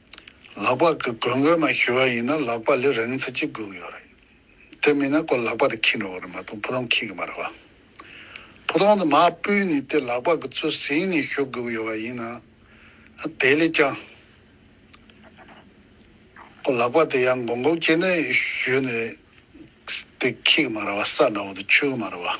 ལག་པ་གི་གོས་མགོའི་མ་ཞུ་བ་ཡིན་ན་ལག་པ་ལས་རང་ཚིག་གཅིག་སྒུག་ཡོད་རེད། དེ་མིན་ན་ཀོ་ལག་པ་དེ་ཁྱིད་འགྲོ་གི་རེད་མ་གཏོགས་ཕུ་ཐང་ཁྱིད་ཀྱི་མ་རེད་བ། ཕུ་ཐང་དུ་མ་སྤུས་ནས་དེ་ལག་པ་གི་བཙོ་ཟིན་ནས་ཞུ་སྒུག་ཡོད་བ་ཡིན་ན། དེ་ལས་ཀྱང། ཀོ་ལག་པ་དེ་ཡང་མགོ་འགོག་བྱས་ནས་ཞུས་ནས་དེ་ཁྱིད་ཀྱི་མ་རེད་བ་ས་འདྲ་བོ་དུ་ཆུད་ཀྱི་མ་རེད་བ།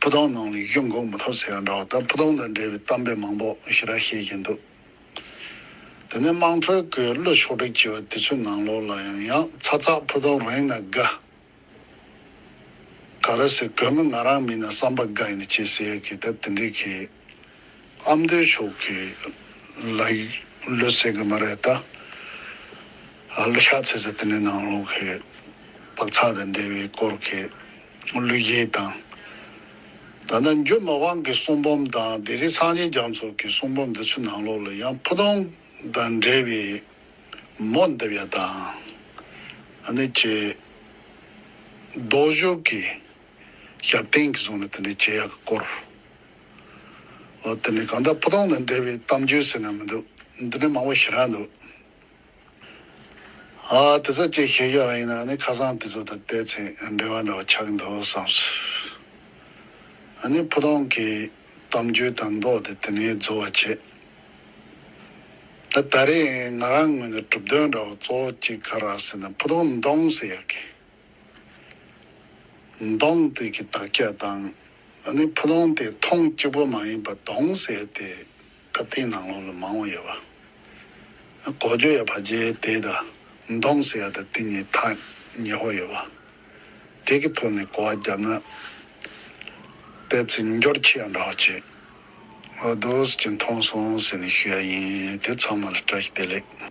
ཕུ་ཐང་ནང་ལས་ཀྱི་འགོག་མི་ཐུབ་ཟེར་ཡག་འདྲ་བ་ལྟར་ཕུ་ཐང་དང་འབྲེལ་བའི་གཏམ་དཔེ་མང་པོ་ཞེ་དྲག་བཤད་ཀྱིན་འདུག་དེ་ནས་དམངས་ཁྲོད་དགོས་བློ་ཕྱོགས་སྒྲིག་བྱས་པ་དེ་ཚོའི་ནང་ལོགས་ལ་ཡང་ཡང་ཚ་ཚ་ཕུ་ཐང་རང་ཡིན་ན་དགའ་དགའ་རེད་ཟེར་དགོས་མི་ང་རང་མིན་ན་བསམ་པ་དགའ་ཡིན་ན་ཅེས་ཟེར་ཡག་གི་ད་དེ་འདྲའི་གི། ཨ་མདོའི་ཕྱོགས་ཀྱི་ལ་ཡིག་ལོས་ཟེར་གི་མ་རེད་ད། ཨ་ལོ་ཤག་ཚེ་ཟེར་དེ་ནི་ནང་ལོག་གི་བག་ཚག་དང་འབྲེལ་བའི་སྐོར་གྱི་གླུ་གཞས་དང། ད་ལྟ་འཇུ་མ་དབང་གི་གསུང་འབུམ་དང་སྡེ་སྲིད་སངས་རྒྱས་རྒྱ་མཚོ་གི་གསུང་འབུམ་འདི་ཚོའི་ནང་ལོག་ལ་ཡང་ཕུ་ཐུང་དང་འབྲེལ་བའི་མོ་འདེབས་ཡ་དང། ཨ་ནི་ཀྱི་རྡོ་བཞུགས་ཀྱི་ཞབས་བརྟན་གྱི་གཟུངས་ནི་དེ་འདྲས་བྱེད་ཡ་གི་སྐོར། འོ་དེ་ནི་གང་ལྟར་བུ་སྟོང་དང་འབྲེལ་བའི་གཏམ་རྒྱུད་ཟེར་ན་མི་འདུག་འདི་ནི་མང་པོ་ཞེ་དྲག་འདུག། ཨ་དེ་ཚོ་ཅེས་ཞེས་བརྗོད་པ་ཡིན་ན་ནི་ཁ་སང་དེ་ཚོ་དང་བལྟས་ཚེ་འབྲེལ་བ་འདྲ་བ་ཆགས་ཀྱི་འདུག་བསམས། ཨ་ནི་བུ་སྟོང་གིས་གཏམ་རྒྱུད་དང་མདོ་དེ་དེ་ནས་རྫོགས་བར་བྱས། ད་ད་རེས་ང་རང་ངོས་ནས་གྲུབ་དོན་འདྲ་བོ་གཙོ་བོ་གཅིག་ག་རག་ཟེར་ན་བུ་སྟོང་ནི་འདྲོངས་ཟེར་ཡག་གི། མདོངས་དེ་གི་དག་རྒྱ་དང། ད་ནི་ཕུ་ལོང་དེ་མཐོང་གཅིག་པོ་མ་ཡིན་པ་མདོངས་ཟེར་ཏེ་སྐབས་དེའི་ནང་ལོགས་ལ་མང་བོ་ཡོད་པ། གོ་ཇོ་ཡ་བ་རྗེ་དེ་དང་མདོངས་ཟེར་ཡ་དང་དེ་གཉིས་ཐག་ཉེ་བོ་ཡོད་པ། དེ་གི་ཐོག་ནས་གོ་བ་བརྒྱབ་ན་པའི་ཚིག་སྦྱོར་ཁྱི་ཡ་འདྲ་བོ་བྱེད་འོ་དོ་ཟེར་གྱི་མཐོང་སོང་ཟེར་ནས་ཞུ་ཡ་ཡིན་དེ་ཚང་མ་ལ་བཀྲ་ཤིས་བདེ་ལེགས།